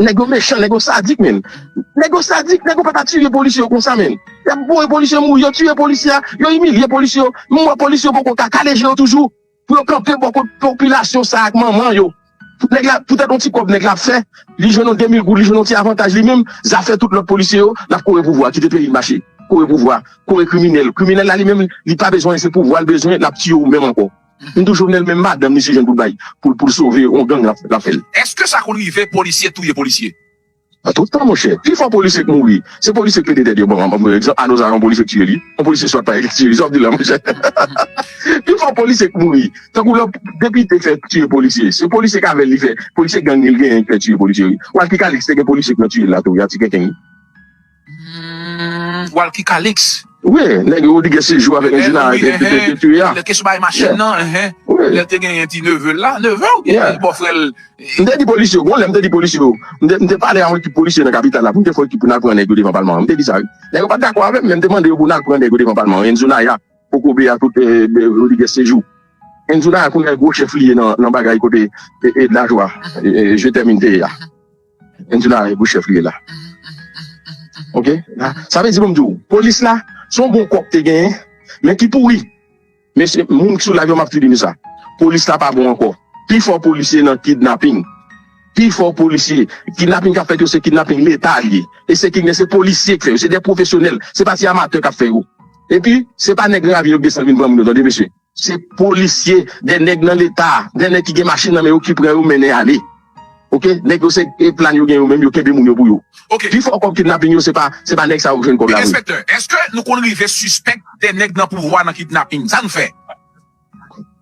Nèg yo mechan, nèg yo sadik menn. Nèg yo sadik, nèg yo pa ta tire polisye yo konsa menn. Y ap voye polisye yo mouri, yo tiye polisye a, yo imilye polisye yo. M wè polisye yo poko ka kale je yo toujou pou yo kanpe bò kot popilasyon sa ak manman yo. Nèg la, poutèt yon ti kòb nèg la ap fè, li jwenn yon 2000 goud, li jwenn yon ti avantaj li menm, zafè tout lòt polisye yo, l ap kore pouvwa, kite peyi l mache. Kore pouvwa, kore kriminèl. Kriminèl la li menm, li pa bezwen, se pouvwa l bezwen, l ap tiye ou menm ankò. M tou jovenel menm madanm li si jwenn pou l bay pou l sove yon gang lap fè l. Eske sa konn rive polisye touye polisye. Nan tout tan monchè, pi fò polisye k mouri, se polisye k pete tèt yo. Bon, ann pran egzanp Ano Zara, yon polisye k tiye li, yon polisye swat pa e k tiye li, sa w ap di la monchè? Pi fò polisye k mouri, tankou lò depite fè tiye polisye, se polisye k avè l li fè, polisye gang li l genyen ki fè tiye polisye wi. Walky Calixte gen polisye k nan tiye l la tou wi, a ti kenken wi. Humm walky calix. Wi nèg yo li gen sejou avèk Regina depi wi yeah. Lèl te sou bagay machin nan yeah. Lèl te gen ti nevel la neveu oubyen bò frèl. M te di polisye yo gon lè m te di polisye yo m te pale a yon ekip polisye nan kapital la pou m te fè yon ekip pou n al pran nèg yo devan palman an m te di sa wi nèg yo pat dakò avè m men m te mande yo pou n al pran nèg yo devan palman an Enzo Naya kokobe a tout Rodrigues Sejou Enzo Naya kounye a gwo chèf li ye nan bagay kote Edna Joie je t'aime te ye a. Angela e bouchèf li ye la ok sa vle di poum diw polis la son bon kòk te genyen men ki pouri mesye moun ki sou live yo map tou di nou sa polis la pa bon ankò pi fò polisye nan kidnaping pi fò polisye kidnaping kap fèt yo se kidnaping leta liye e se kidnè se polisye ki fè yo se de pwofesyonèl se pa ti amatè kap fè yo epi se pa nèg ravin yo k desann vin pran moun yo tande mesye. Se polisye, de nèg nan leta, de nèg ki gen machin nan men yo ki pran yo mennen ale. Ok, nèg yo se e plan yo gen yo menm yo kenbe moun yo pou yo. Ok. Pi fò kòb kidnaping yo se pa se pa nèg sa yo k jwenn kòb la vre. Enspektè, eske nou konn rive sispèk de nèg nan pouvwa nan kidnaping? Sa n fè?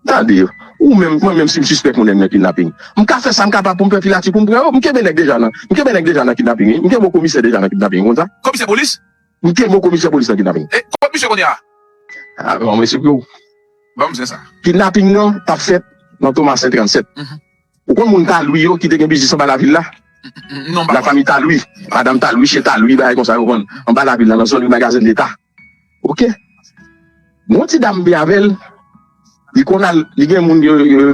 Tande, ou menm, mwen menm si m sispèk yon nèg nan kidnaping, m ka fè sa m kapab pou m fè filatye pou m pran yo. M kenbe nèg deja nan, m kenbe nèg deja nan kidnaping wi. M kenbe yon komisè deja nan kidnaping, ou konn sa? Komisè polis? Li te mo komisè polis nan kidnaping. E kot misye kounye a? A banm resep yo. Banm zen sa. Kidnaping nan tap fèt nan Thomassin 37. Ou konn moun Talwi yo ki te gen biznis anba lavil la? Non m pa konn. Lafami Talwi, madam Talwi, chyen Talwi bagay konsa yo vann anba lavil la nan zòn ri Magazen Leta. Ok. Yon ti dam vin avè l, li konn al, li gen moun,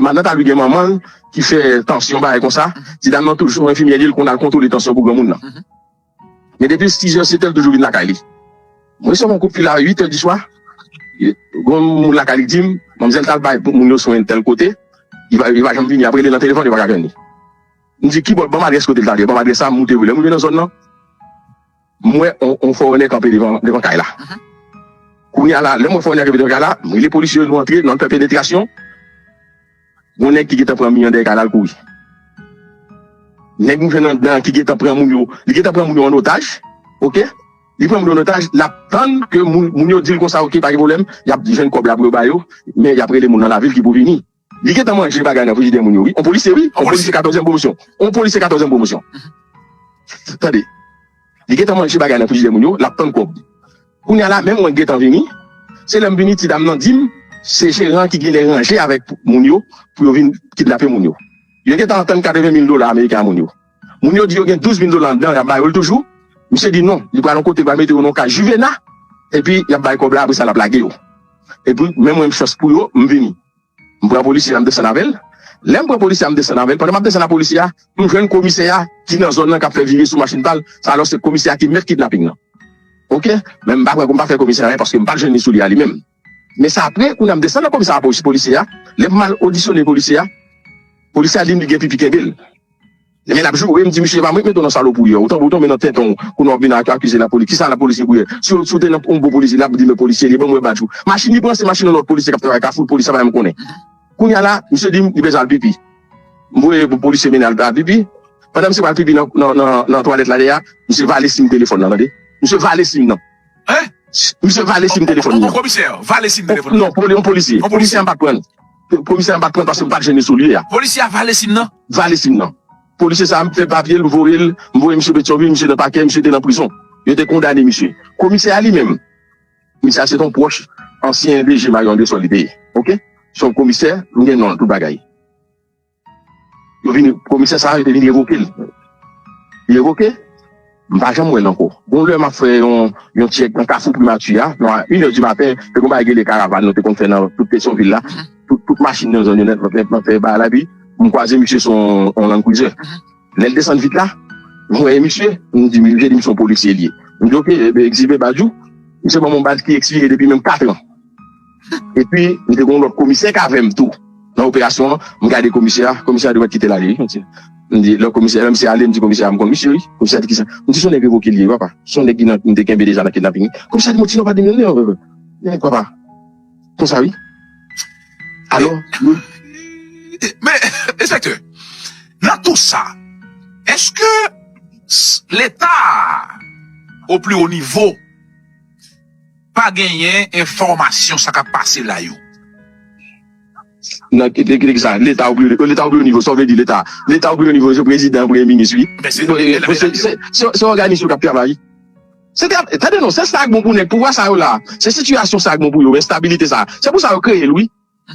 madan Talwi gen manman l ki fè tansyon bagay konsa, ti dam nan toujou enfimyè li, li konn al kontwole tansyon pou granmoun nan. Men depi l 6 heures 7 heures l toujou vin lakay li. Mwen resevwa yon koutfil a 8 heures du soir, gon moun lakay li k di m manmzèl t al bay moun yo swen tèl kote, li pa li pa janm vini, ap rele nan telefòn yo pa ka jwenn li. M di kibò, banm adrès kote l t al, li banm adrès sa, m moute vre, lè m rive nan zòn nan, m wè yon fòrenè kanpe devan devan kay la. Kounye a la, lè m wè fòrenè a kanpe devan kay la, m rele polisye yo nou antre, nou al fè penetrasyon. Gon nèg ki gentan pran mi andèy kanal kouri. Nèg nou jwenn anndan ki gentan pran moun yo, li gentan pran moun yo an otaj ok, li pran moun yo an otaj lap tann ke moun yo dil konsa ok pa gen pwoblèm yap jwenn kòb la pou yo ba yo men yap rele moun nan lavil ki pou vini. Li gentan manje bagay nan frijidè moun yo wi, on polisye wi, on polisye katòzyèm pwomosyon, on polisye katòzyèm pwomosyon tande li gentan manje bagay nan frijidè moun yo lap tann kòb. Kounya la menm mwen gentan vini, se lèm vini ti dam nan dim se jeran ki genlè ranje avèk moun yo pou yo vin kidnape moun yo. Yo gentan antann 80 mil dola ameriken a moun yo. Moun yo di yo gen 12 mil dola anndan yap ba yo l toujou, misye di non li pral yon kote pral mete yo nan yon kay juvena epi yap bay kòb la apresa lap lage yo. Epi menm mwen m chans pou yo m vini. M pran polisye a m desann avè l Lè m pran polisye a m desann avè l Pandan m ap desann a polisye a m jwenn komisè a ki nan zòn nan k ap fè vire sou machin pa l Sa alò se komisè a ki mèt kidnaping lan Ok Men m pa pran kou m pa fè komisè a anyen paske m pa t jwenn li sou li a li menm Men sa apre kounye a m desann nan komisara polisye a Lè m al odisyone polisye a Polisye a di m li gen pipi kenbe l. Men lap joure m di misye epa mwen k met w nan salopri an ou tanbou tonbe nan tenten w kounye a wap vin akize la polis kisa la polis gen pou yè si w te nan yon bon polisye lap di men polisye li banm wè badj ou machin li pran se machin yon lòt polisye kap travay kafou l polis sa pa janm konnen kounye a la misye di m li bezwen al pipi m voye yon polisye mennen al pipi pandan misye pral pipi nan twalèt la dèyè a misye vale sim telefòn nan tande misye vale sim nan misye vale sim telefòn nan yon polisye yon polisye an pa k pran l. Polisye a m pat pranl paske m pat jene solye a. Polisye a vale sim nan. Vale sim nan. Polisye sa a m fè papye l m voye l. M voye misye Petyonvil, misye nan pakè, misye te nan prizon. Yo te kondane misye. Komisè a li menm, misye a se t on pwòch ansyen DG Mario Andresol li te ye. Ok. Se yon komisè, m gen non l, tout bagay. Komisè sa a yo te vin revoke l. Li revoke, m pa janm wè l ankò. Yon lè m ap fè yon tchèk nan kafou Primati a, nan inè di maten, te gen yon bagay rele karavan nou te konn fè nan tout Petyonvil la. Tout machin nan zòn yo nèt nèt nan fè bagay la. Epi, m kwaze misye sou yon landkrizè. Lè l desann vit la, m wè e misye. M di misye se yon polisye li ye. M di, ok, Egzilbe Bajou. Misye ban m yon badj ki ekspire depi menm katran. Epi li te gon lòt komisè k avè m tou nan operasyon an, m gade komisè a, komisè a te mèt kite l ale wi mesye. M di lò komisè, lè misye ale m di komisè a m konn misye wi, komisè a di kisa? M di s on nèg revoke li ye wi papa, s on nèg ki nan m te kenbe deja nan kidnaping wi. Komisè a di m ti non pa di moun non wi papa, konsa wi. Alò yo. Men enspektè, nan tou sa, èske leta a o pli o nivo, Pa genyen enfòmasyon sa kap pase la yo. Nan ki teknik sa? Leta ou byen leta ou byen nivo sa ou vle di leta leta ou byen nivo se prezidan premye minis wi se yon òganis yo kap travay se te tande non se sa k bon pou nèg pouvwa sa yo la se sitiyasyon sa k bon pou yo estabilite sa se pou sa yo kreye l wi.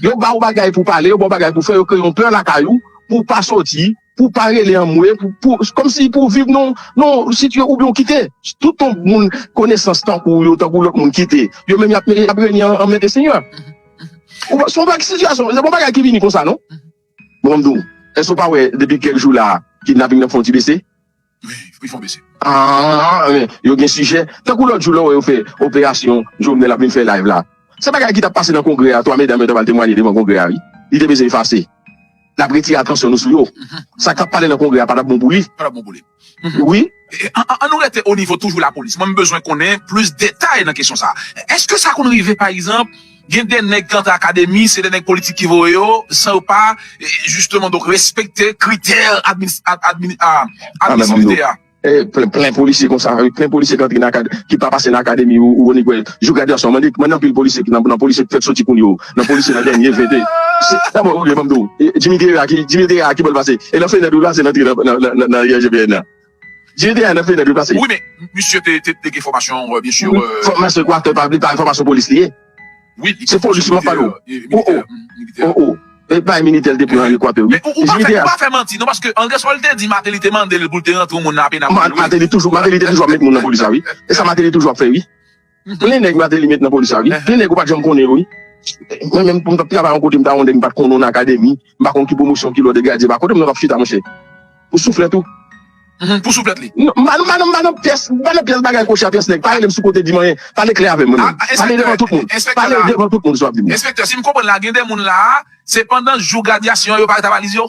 Yo ba ou bagay pou pale, yo ba ou bagay pou fè, yo kreye yon pè lakay ou pou ou pa soti, pou ou pa rele anmwe, pou ou, kòmsi pou ou viv nan yon sitiyasyon oubyen ou kite tout yon moun konesans tankou ou yo, tankou lòt moun kite yo menm y ap renye anmède senyè. Ou pa, se yon bagay, sitiyasyon, se pa yon bagay ki vini konsa non. Bon, m di w, èske ou pa wè depi kèk jou la kidnaping nan fè yon ti bese? Aah men yo gen sijè. Tankou lòt jou lè w wè yo fè operasyon Jovenel ap vin fè live la. Se bagay ki t ap pase nan kongrè a 3 medam yo t ap al temwanye devan kongrè a wi. Li te bezwen efase. L ap retire atansyon nou sou yo. Sa k t ap pale nan kongrè a pa t ap bon pou li. Wi. An nou rete onivo toujou lapolis. Mwen m bezwen konnen plis detay nan kesyon sa a. Èske sa konn rive pa egzanp. Gen de nèg ki antre akademi se de nèg politik ki voye yo san yo pa jisteman donk respekte kritè admisiblite a. Plen polisye konsa, plen polisye ki antre nan akademi, ki pa pase nan akademi ou wè nèg wè jou gradyasyon an. Mande anpil polisye ki nan polisye ki fèk soti kounye yo, nan polisye nan dènye 20 de dabò ok banm di w Jimmy Guerra ki Jimmy Guerra ki bò l pase e nan fenèt ou l pase l antre nan IGPN nan. Jiri te a 9 lide dwe plase. Wi men misye te te gen fòmasyon byen sur. Fòmasyon equateur pa li pa fòmasyon polis li ye. Wi li gen fòmasyon militè militè. Oh oh e bay militè li te pran an equateur wi. Men ou ou pa fè manti non paske Andresol te di Martelly te mande l pou l te rantre yon moun nan apenapòl wi. Martelly toujou Martelly te toujou ap met moun nan polis la wi. E sa Martelly toujou ap fè wi. Plen nèg Martelly met nan polis la wi. Plen nèg ou pat janm konnen yo wi. Mwen menm pou m t ap travay yon kote m ta wonde m pat konnen yon akademi, m pa konn ki pwomosyon, ki lòd e grade se pa. Kote moun nan t ap chita monchè? Pou souflèt ou? Pou souflèt li? M pa m pa nan m pa nan pyès m pa nan pyès bagay kòchè a pyès nèg. Pa rele m sou kote di m anyen. Pale klè avè m mwen menm. Pale devan tout moun. Pale devan tout moun sa w ap di m nan. Enspektè, si m konprann la gen de moun la a se pandan jou gradyasyon an yo pa reta valiz yo?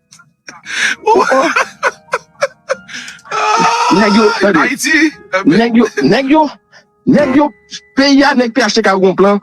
Nèg yo, tande, nèg yo, nèg yo, nèg yo, peyi a, nèg phtk yo gon plan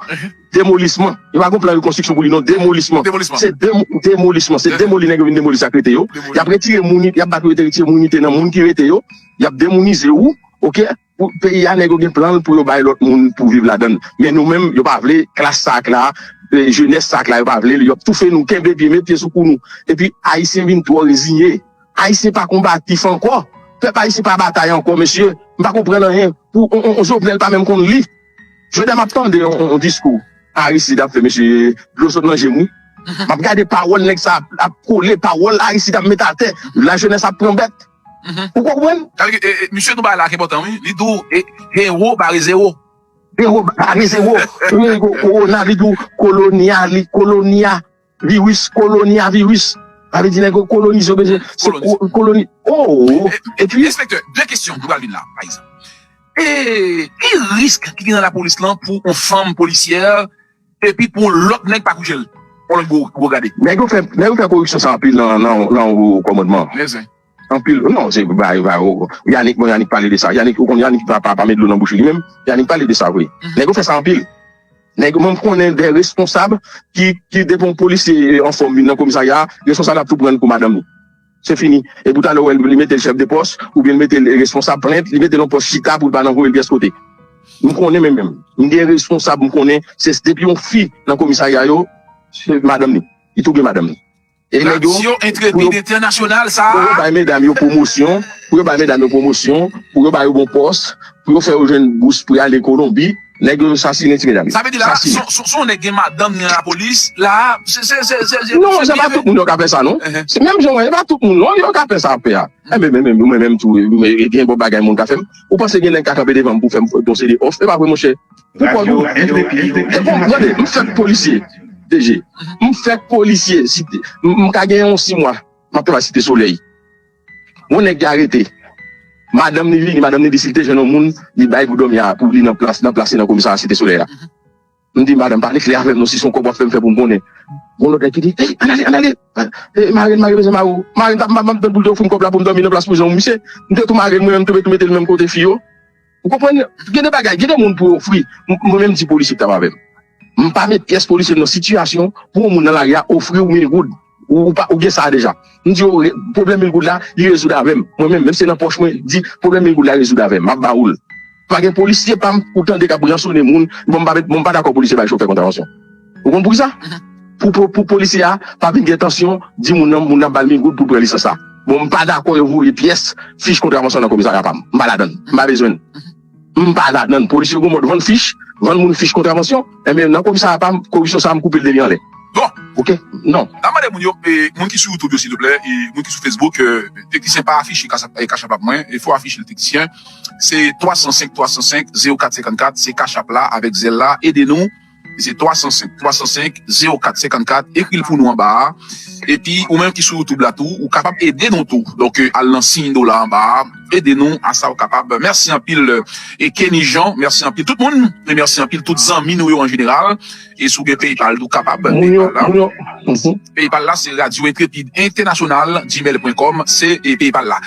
demolisman. Yo pa gon plan rekonstriksyon pou li non, demolisman. Se demolisman, se demoli nèg yo vin demoli sa k rete yo. Y ap retire moun, y ap bat yo rete retire moun ki te nan moun ki rete yo. Y ap demounize ou, oke. Pou peyi a nèg yo gen planl pou yo bay lòt moun pou viv ladann men nou menm yo pa vle klas sa ak la jenès sa ak la yo pa vlel yo ap toufe nou kenbe pye met pye sou kou nou epi ayisyen vin twò rezinye ayisyen pa konbatif ankò pèp ayisyen pa batay ankò mesye m pa konprann anyen pou on jovenel pa menm konn li jodha map tande on diskou aristid ap fè mesye dlo sot nan jem wi map gade pawòl nèg sa ap kole pawòl aristid ap met atè la jenès ap pran bèt. Ou konprann? Sa vle di, misye nou bagay la ak enpòtan wi, li di w Hero bare zero. Hero bare zero, Fuego, Corona, li di w Colonia, li Colonia virus, Colonia virus. Sa vle di nèg yo kolonize, yo bezwen se koloni. Ooh! Epi. Enspektè, 2 kesyon nou pral vin la, pa egzanp. E ki risk ki gen nan lapolis lan pou on fanm polisyè? Epi pou yon lòt nèg pa koujel. On lòt gwo gwo gade. Nèg yo fè nèg yo fè koripsyon sa anpil nan nan wo kòmandman. Men zen. Anpil wi non se va e va yo Yanick bon Yanick pale de sa Yanick ou konn Yanick pa pa met dlo nan bouch li menm Yanick pale de sa vre nèg yo fè sa anpil nèg yo menm konnen de responsab ki ki depi yon polisye anfòm vin nan komisarya a responsab la ap tou pran l pou madanm li. Se fini. E pou tale ou wèl li metel chef de poste ou byen li metel responsab plent, li metel yon poste chita poul pa nan voyel pyès kote. M konnen men menm m gen responsab m konnen se depi yon fi nan komisarya yo se madanm li li tou gen madanm li. E nèg yo Radio Intrépide Internationale sa a. Pou yo bay medam yo pwomosyon, pou yo bay medam yo pwomosyon, pou yo ba yo bon pòs, pou yo fè yo jwenn bous pou y ale Kolonbi. Neg yo sasinen ti medam. Sa vle di la si yon nèg gen madanm ni nan la polis la se se se se se Non se pa tout moun yo ka fè sa non se menm jan wè se pa tout moun non yo ka fè sa wap fè a enben menm menm mwen menm tou gen bon bagay moun ka fèm ou panse gen nèg ka kanpe devanm pou fèm yon seri òf epa vre monchè pou kòl ou se pou tande m fèk polisye DG m fèk polisye m ka gen yon 6 mwa map travay site solèy. Bon nèg ya rete madanm li vini madanm li di sil te jwenn yon moun li bay pou dòmi a pou li nan plas nan plas li nan komisarya site solèy la m di madanm pale klè avèm non si son kòb wap fèm fè poum konnen gon lòt nèg ki di ey ann ale ann ale e marenn mare bezwen mare w marenn pap map tann poul te ofrim kòb la poum dòmi nan plas pou jan w misye m te tou marenn mwen menm m te tou metel menm kote fi yo. Ou konprann? Gen de bagay, gen de moun pou ofri, mwen menm di polisye ki t ap avè m, m pa met pyès polisye m nan sitiyasyon pou yon moun nan lari a ofri ou mil goud, ou pa, ou gen sa a deja. M di yo, pwoblèm mil goud la, li rezoud avè m, mwen menm, menm si se nan pòch mwen, di, pwoblèm mil goud la rezoud avè m, m ap ba ou l. Pa gen polisye pa m ou tande k ap ransone moun, bon m pa met, bon m pa dakò polisye bay chofè kontravansyon. Ou konn poukisa? Pou polisye a pa vin gen tansyon di moun nan moun nan bal mil goud pou l pran lisans la. Bon m pa dakò yo voye pyès fich kontravansyon nan komisarya pa m. M pa ladann. M pa bezwen l. M pa ladann. Polis yo gen yon mòd vann fich, vann moun fich kontravansyon. Enben nan komisarya pa m, koripsyon sa a m koupe l depi anlè. Bon! Ok. Non. N ap mande moun yo, moun ki sou YouTube yo silvouplè, moun ki sou Facebook, teknisyen pa afiche cash app mwen, fè w afiche l teknisyen. Se 305 305 04 54, se cash app la avèk Zelle la. Ede nou Se 305 305 04 54 ekri l pou nou anba a epi ou menm ki sou youtube la tou ou kapab ede nou tou donk al nan siy dola anba a ede nou a sa ou kapab mèsi anpil Kenny Jean mèsi anpil tout moun e mèsi anpil tout zanmi nou yo an jeneral e si w gen paypal tou kapab paypal la se radio intrepid entènasyonal gmail pwen kòm se paypal la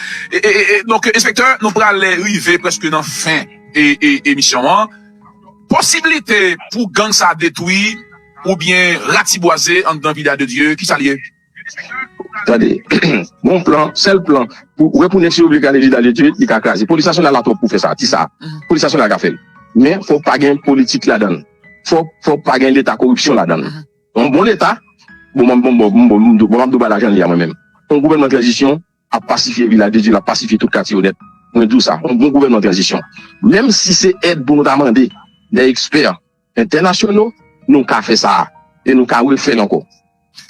donk enspektè nou pral rive prèske nan fen emisyon an. Posibilite pou gang sa detwi oubyen ratibwaze anndan Villa de Dieu kisa li ye? Tande bon plan sèl plan pou wè pou nèg si yo vle kraze Villa de Dieu li ka kraze polis nasyonal la twòp pou fè sa ti sa polis nasyonal ka fèl men fòk pa gen politik ladann fòk fòk pa gen leta koripsyon ladann yon bon leta bon map bon map dou ba lajan li a mwen menm yon gouvènman tranzisyon ap pasifye Vilaj de Dye, l ap pasifye tout katye yo nèt. Mwen di w sa, yon bon gouvènman tranzisyon, menm si se èd pou nou ta mande dè ekspè entènasyono, nou ka fè sa a e nou ka refè l ankò.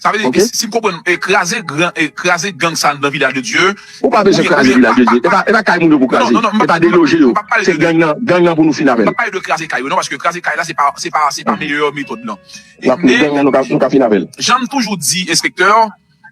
Sa vle di, si m konprann, kraze gran, kraze gang sa anndan Vilaj de Dye, Ou pa bezwen kraze Vilaj de Dye. E pa kay moun yo pou w kraze. Non, non, m ap, m ap, m ap, m ap, e pa deloje yo. Se gang nan, gang nan pou nou fini avè l. M ap pale de kraze kay yo non, paske kraze kay la se pa, se pa, se pa meyè metòd lan. N ap, gang nan nou ka, nou ka fini avè l. Jan m toujou di, enspektè,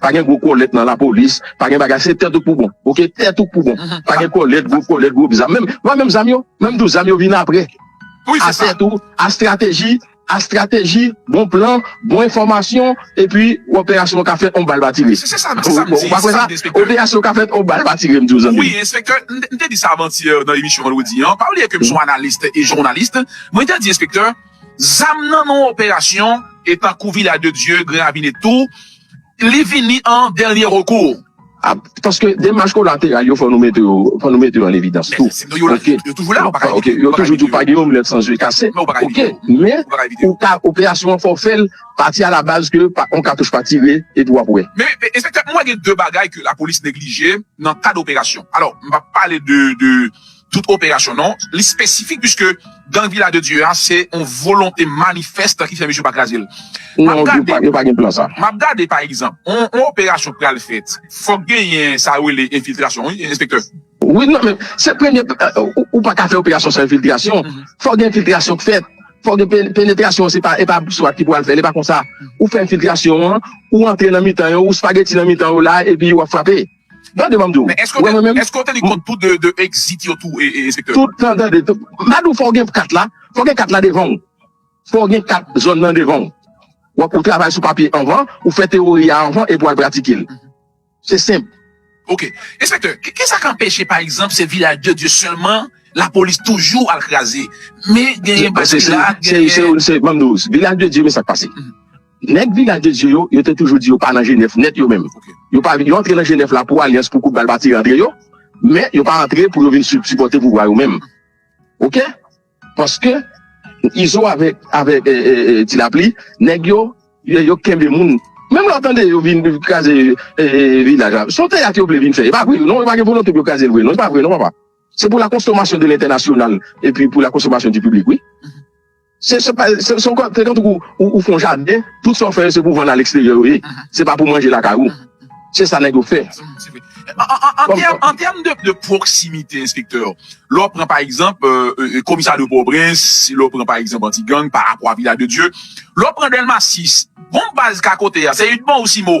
pa gen gwo kòlèt nan lapolis pa gen bagay se tèt ou pou bon ok tèt ou pou bon pa gen kòlèt gwo kòlèt gwo zam menm wè menm zam yo menm tou zam yo vin aprè a tèt ou a strateji a strateji bon plan bon enfòmasyon epi operasyon an ka fèt on bal pa tire se sa m di ou pa kwè sa operasyon an ka fèt on bal pa tire m di w zanmi m wi enspektè m te di sa avan ti nan emisyon vandredi an pa bliye ke m son analis e journaliste mwen te di enspektè. Zam nan non operasyon e tankou Villa de Dieu, Grand Ravine tou, li vini an dènye rekou. A, paske demach kolateral yo fò nou mete yo, fò nou mete yo an evidans tou. Men, yo la, yo toujou la, ou pa ka evite yo. Ok, yo toujou di w pa gen yon mlèt san zye kase. Men ou pa ka evite yo. Ok, men, ou ka, operasyon an fò w fè l pati alabaz ke pa on katouch pa tire epi w ap wè. Men, enspektè, mwen wè gen de bagay ke lapolis neglije nan kad operasyon. Alò, m pa p pale de, de. tout operasyon non, li spesifik piske gang Vila de Dye a se yon volonte manifèst ki fè misye pa kraze l. Non, yo pa gen plan sa. M ap gade pa egzanp, yon operasyon pral fèt, fòk genyen sa yo rele enfiltrasyon wi enspektè. Wi, non men, se premye, ou pa ka fè operasyon san enfiltrasyon, fòk gen enfiltrasyon k fèt, fòk gen penetrasyon, se pa, e pa swat ki pou al fè l, e pa konsa. Ou fè enfiltrasyon an, ou antre nan mitan yo, ou spageti nan mitan yo la, epi w ap frape. Gade banm diw, Men eske ou wè te, mwen menm? eske ou te li kont tout 2 2 exit yo tou e e enspektè? Tout tan gade, tout, ma diw fòw gen kat la, fòw gen kat la devanw, fòw gen kat zòn nan devanw, wap ou travay sou papye anvan, ou fè tewori a anvan epi wal pratikel. Se senp. Ok. Enspektè, kisa k anpeche pa egzanp se Vilaj de Dye sèlman lapolis toujou al kraze, men genyen Baky la, genyen. Banm diw, Vilaj de Dye men sak pase. Nèg Vilaj de Dye yo, yo te toujou di yo pa nan Jenèv nèt yo menm. Yo pa vin, yo antre nan Jenèv la pou alyans pou kout bal batire antre yo, men yo pa antre pou yo vin sipòte pouvwa yo menm. Oke? Paske Izo avèk, avèk Ti Lapli, nèg yo, yo kenbe moun. Menm lè w tande yo vin kraze Vilaj la, son teyat yo vle vin fè. E pa vre non, yo pa gen volonte pou yo kraze l vre non. E pa vre non papa. Se pou la konsomasyon de lentènasyonal epi pou la konsomasyon di piblik wi. Se yon kòk tè tankou ou fè yon jaden, tout sa w fè yo se pou vann aleksteryè yo ye, se pa pou manje lakay ou. Se sa nèg yo fè. An tèm de pwoksimite enspektè, lè w pran pa egzanp komisarya de Pòtoprens, lè w pran pa egzanp Antigang, Parapwa, Vila de Dye, lè w pran Dèlma 6, bon baz ka kote a se Idmon ou Simo?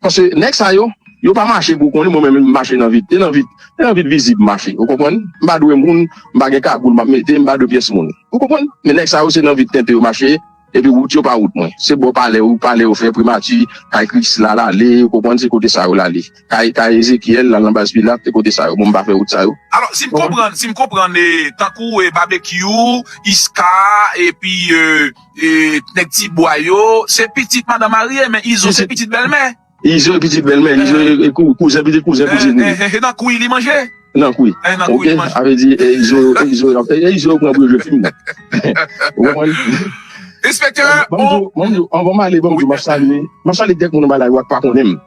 Paske nèg sa yo, yo pa mache pou konnin, mwen menm m mache nan vid, e nan vid, e nan vid vizib m mache, ou konprann? M pa dwe moun, m pa gen kagoul m ap mete, m pa dwe pyès moun, ou konprann? Men nèg sa yo se nan vid tenten yo mache, epi wout yo pa wout mwen. Se bò palè yo, palè yo fè, primati, kay Krisla l ale, ou konprann, se kote sa yo l ale. Kay, kay Ezekyèl, l al nan baz Pilat, se kote sa yo. Bon, m pa fè wout sa yo. Alò, si m konprann, si m konprann, e, tankou, e, Babekyou, Iska, epi, e. Nèg ti bwa yo se pitit madan marye men izo se pitit bèlmè. Izo e pitit bèlmè, izo e kouzen pitit kouzen kouzin li. E nan kou li manje? Nan kou li. Ok sa vle di e izo e izo yo e izo yo pran pou yo jwe fim. Ou konprann? Enspektè bon. Anvan m ale banm diw map salye map salye kèk moun anba la yo ak pa konnen m.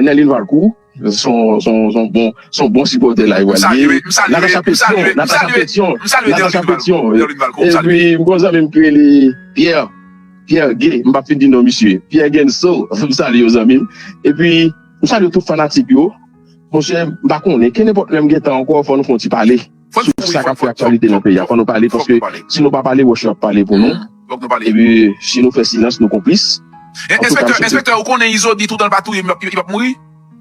Nèlin Valkou son bon sipòtè la Ewa li ye Natacha Petion Natacha Petion Natacha Petion Epi m gon zanmi m ki rele Pierre Pierre Gay m pap fin di non misye Pierre Genso m salye w zanmi m Epi m salye tout fanatik yo Monchè m pa konnen Kenenpòt lè m gentan ankò fò nou fè yon ti pale sou sa k ap fè aktyalite nan peyi a. Fò nou pale paske si nou pa pale wòch yo ap pale pou nou epi si nou fè silans nou konplis. Enspektè, enspektè ou konnen Izo di toutan l pa touye m li pap mouri?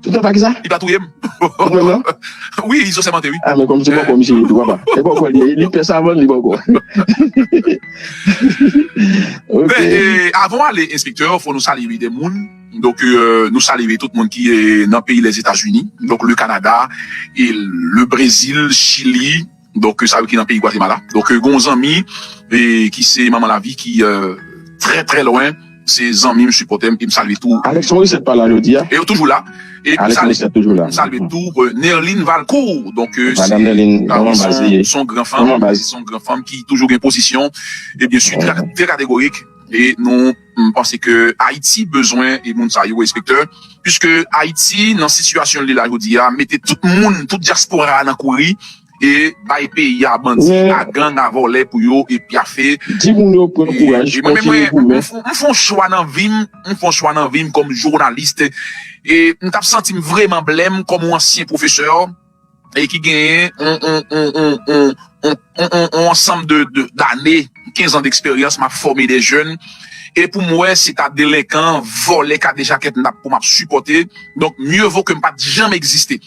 Toutan l pa kisa? Li pa touye m. Ou menm nan? Wi, Izo sèmante wi. A men kòm se bòkò misye ye tou papa. E bòkò l ye, li pè savann li bòkò. Ok. Men avan w ale enspektè fò nou salye wi de moun. Donk nou salye tout moun ki nan peyi Lèzetazini, donk le Kanada, le Brezil, Chili, donk sa yo ki nan peyi Gwatemala. Donk gen yon zanmi ki se Manman Lavi ki trè trè lwen, se zanmi m, sipòtè m e m salye tou. Alex Morissette pa la jodi a? E yo toujou la. E m salye tou Nerline Valcourt, donk se yon gran fanm, se yon gran fanm ki toujou gen pozisyon e byensi trè kategorik e nou. M panse ke Ayiti bezwen moun sa yo enspektè, puiske Ayiti nan sitiyasyon li la jodi a mete tout moun, tout dyaspora a nan kouri e bay peyi a bandi, a gang, a vòlè pou yo pyafe. E mwen menm mwen m fon chwa nan vi m, m fon chwa nan vi m kòm journaliste e m tap santi m vreman blèm kòm yon ansyen pwofesè. e ki genyen yon ansanm dane, 15 ans d'expérience map fòme des jeunes e poum wè se ta delenkan, vòlè, kadejakè kndap pou map sipòte donk mieux vaut kem pat janm egziste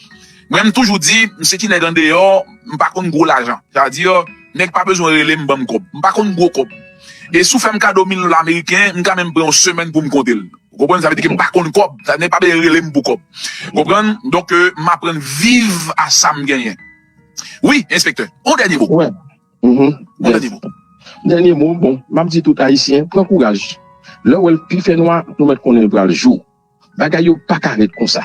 mwen m toujou di m se ti nèg andeyò m pa konn gwo lajan sa vle di nèg pa bezwen relem banm kòb m pa konn gwo kòb e si w fèm kado 1000 dola meriken m ka menm pran yon semèn poum konte l. Ou konprann sa vle di ke m pa konn kòb, sa vle di pa bezwen rele m pou kòb. Ou konprann? Donk ke m aprann viv a sa m genyen. Wi, enspektè. On dènye mo. Wè. Mph. On dènye mo. Dènye mo, bon, m ap di tout Ayisyen, pran kouraj. Lè w wè l pi fè nwa, nou mèt konnen l pral jou. Bagay yo pa ka ret konsa.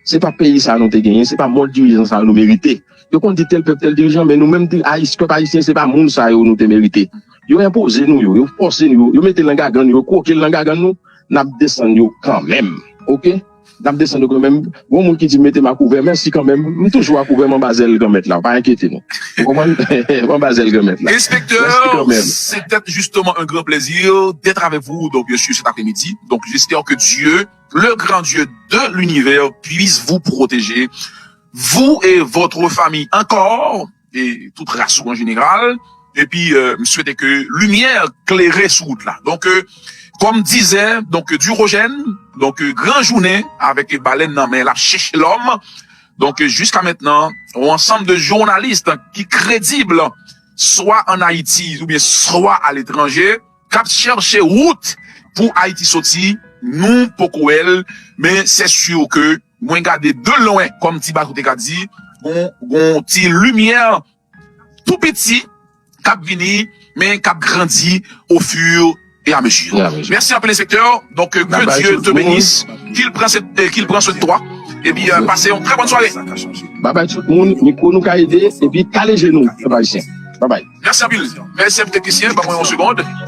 Se pa peyi sa a nou te genyen, se pa mòd dirijan sa yo nou merite. Yo konn di tèl pèp, tèl dirijan, men nou menm di Ayis, pèp Ayisyen se pa moun sa yo nou te merite. Yo enpoze nou yo, yo fòse nou yo, yo mete l nan gagann nou, yo kwoke l nan gagann nou. nap desann yo kanmenm ok nap desann yo kanmenm gon moun ki di metem akouvè mèsi kanmenm m toujou akouvè m anba zèl granmèt la pa enkyete nou ou konprann m anba zèl granmèt la mèsi kanmenm. Setet justement un grand plaisir d'etre avec vous donc bien sur cet après midi donc j'espère que Dieu le grand Dieu de l'univers puisse vous proteger vous et votre famille encore. e tout ras ou an jeneral epi m swete ke limyè klere sou wout la donk kòm dizè donk dirojèn donk gran jounen avèk e balèn nan men lap chèche lòm donk jiska mentnan ou ansanm de jounalis ki kredib swa an ayiti oubyen swa aletranje kap chèche wout pou ayiti soti nou poko wèl men sè sur ke. Mwen gade de lwen kòm ti bato te ka di, gon ti limyè tou piti k ap vini men k ap grandi au fur et à mesure. Mèsi anpil enspektè, donk ke Dye te benis, ke l pran swen de toi epi pase yon trè bòn sware. Babay tout moun, mikwo nou ka ede epi kale je nou pèp ayisyen. Babay. Mèsi anpil. Mèsi anpil teknisyen, ban mwen yon segond.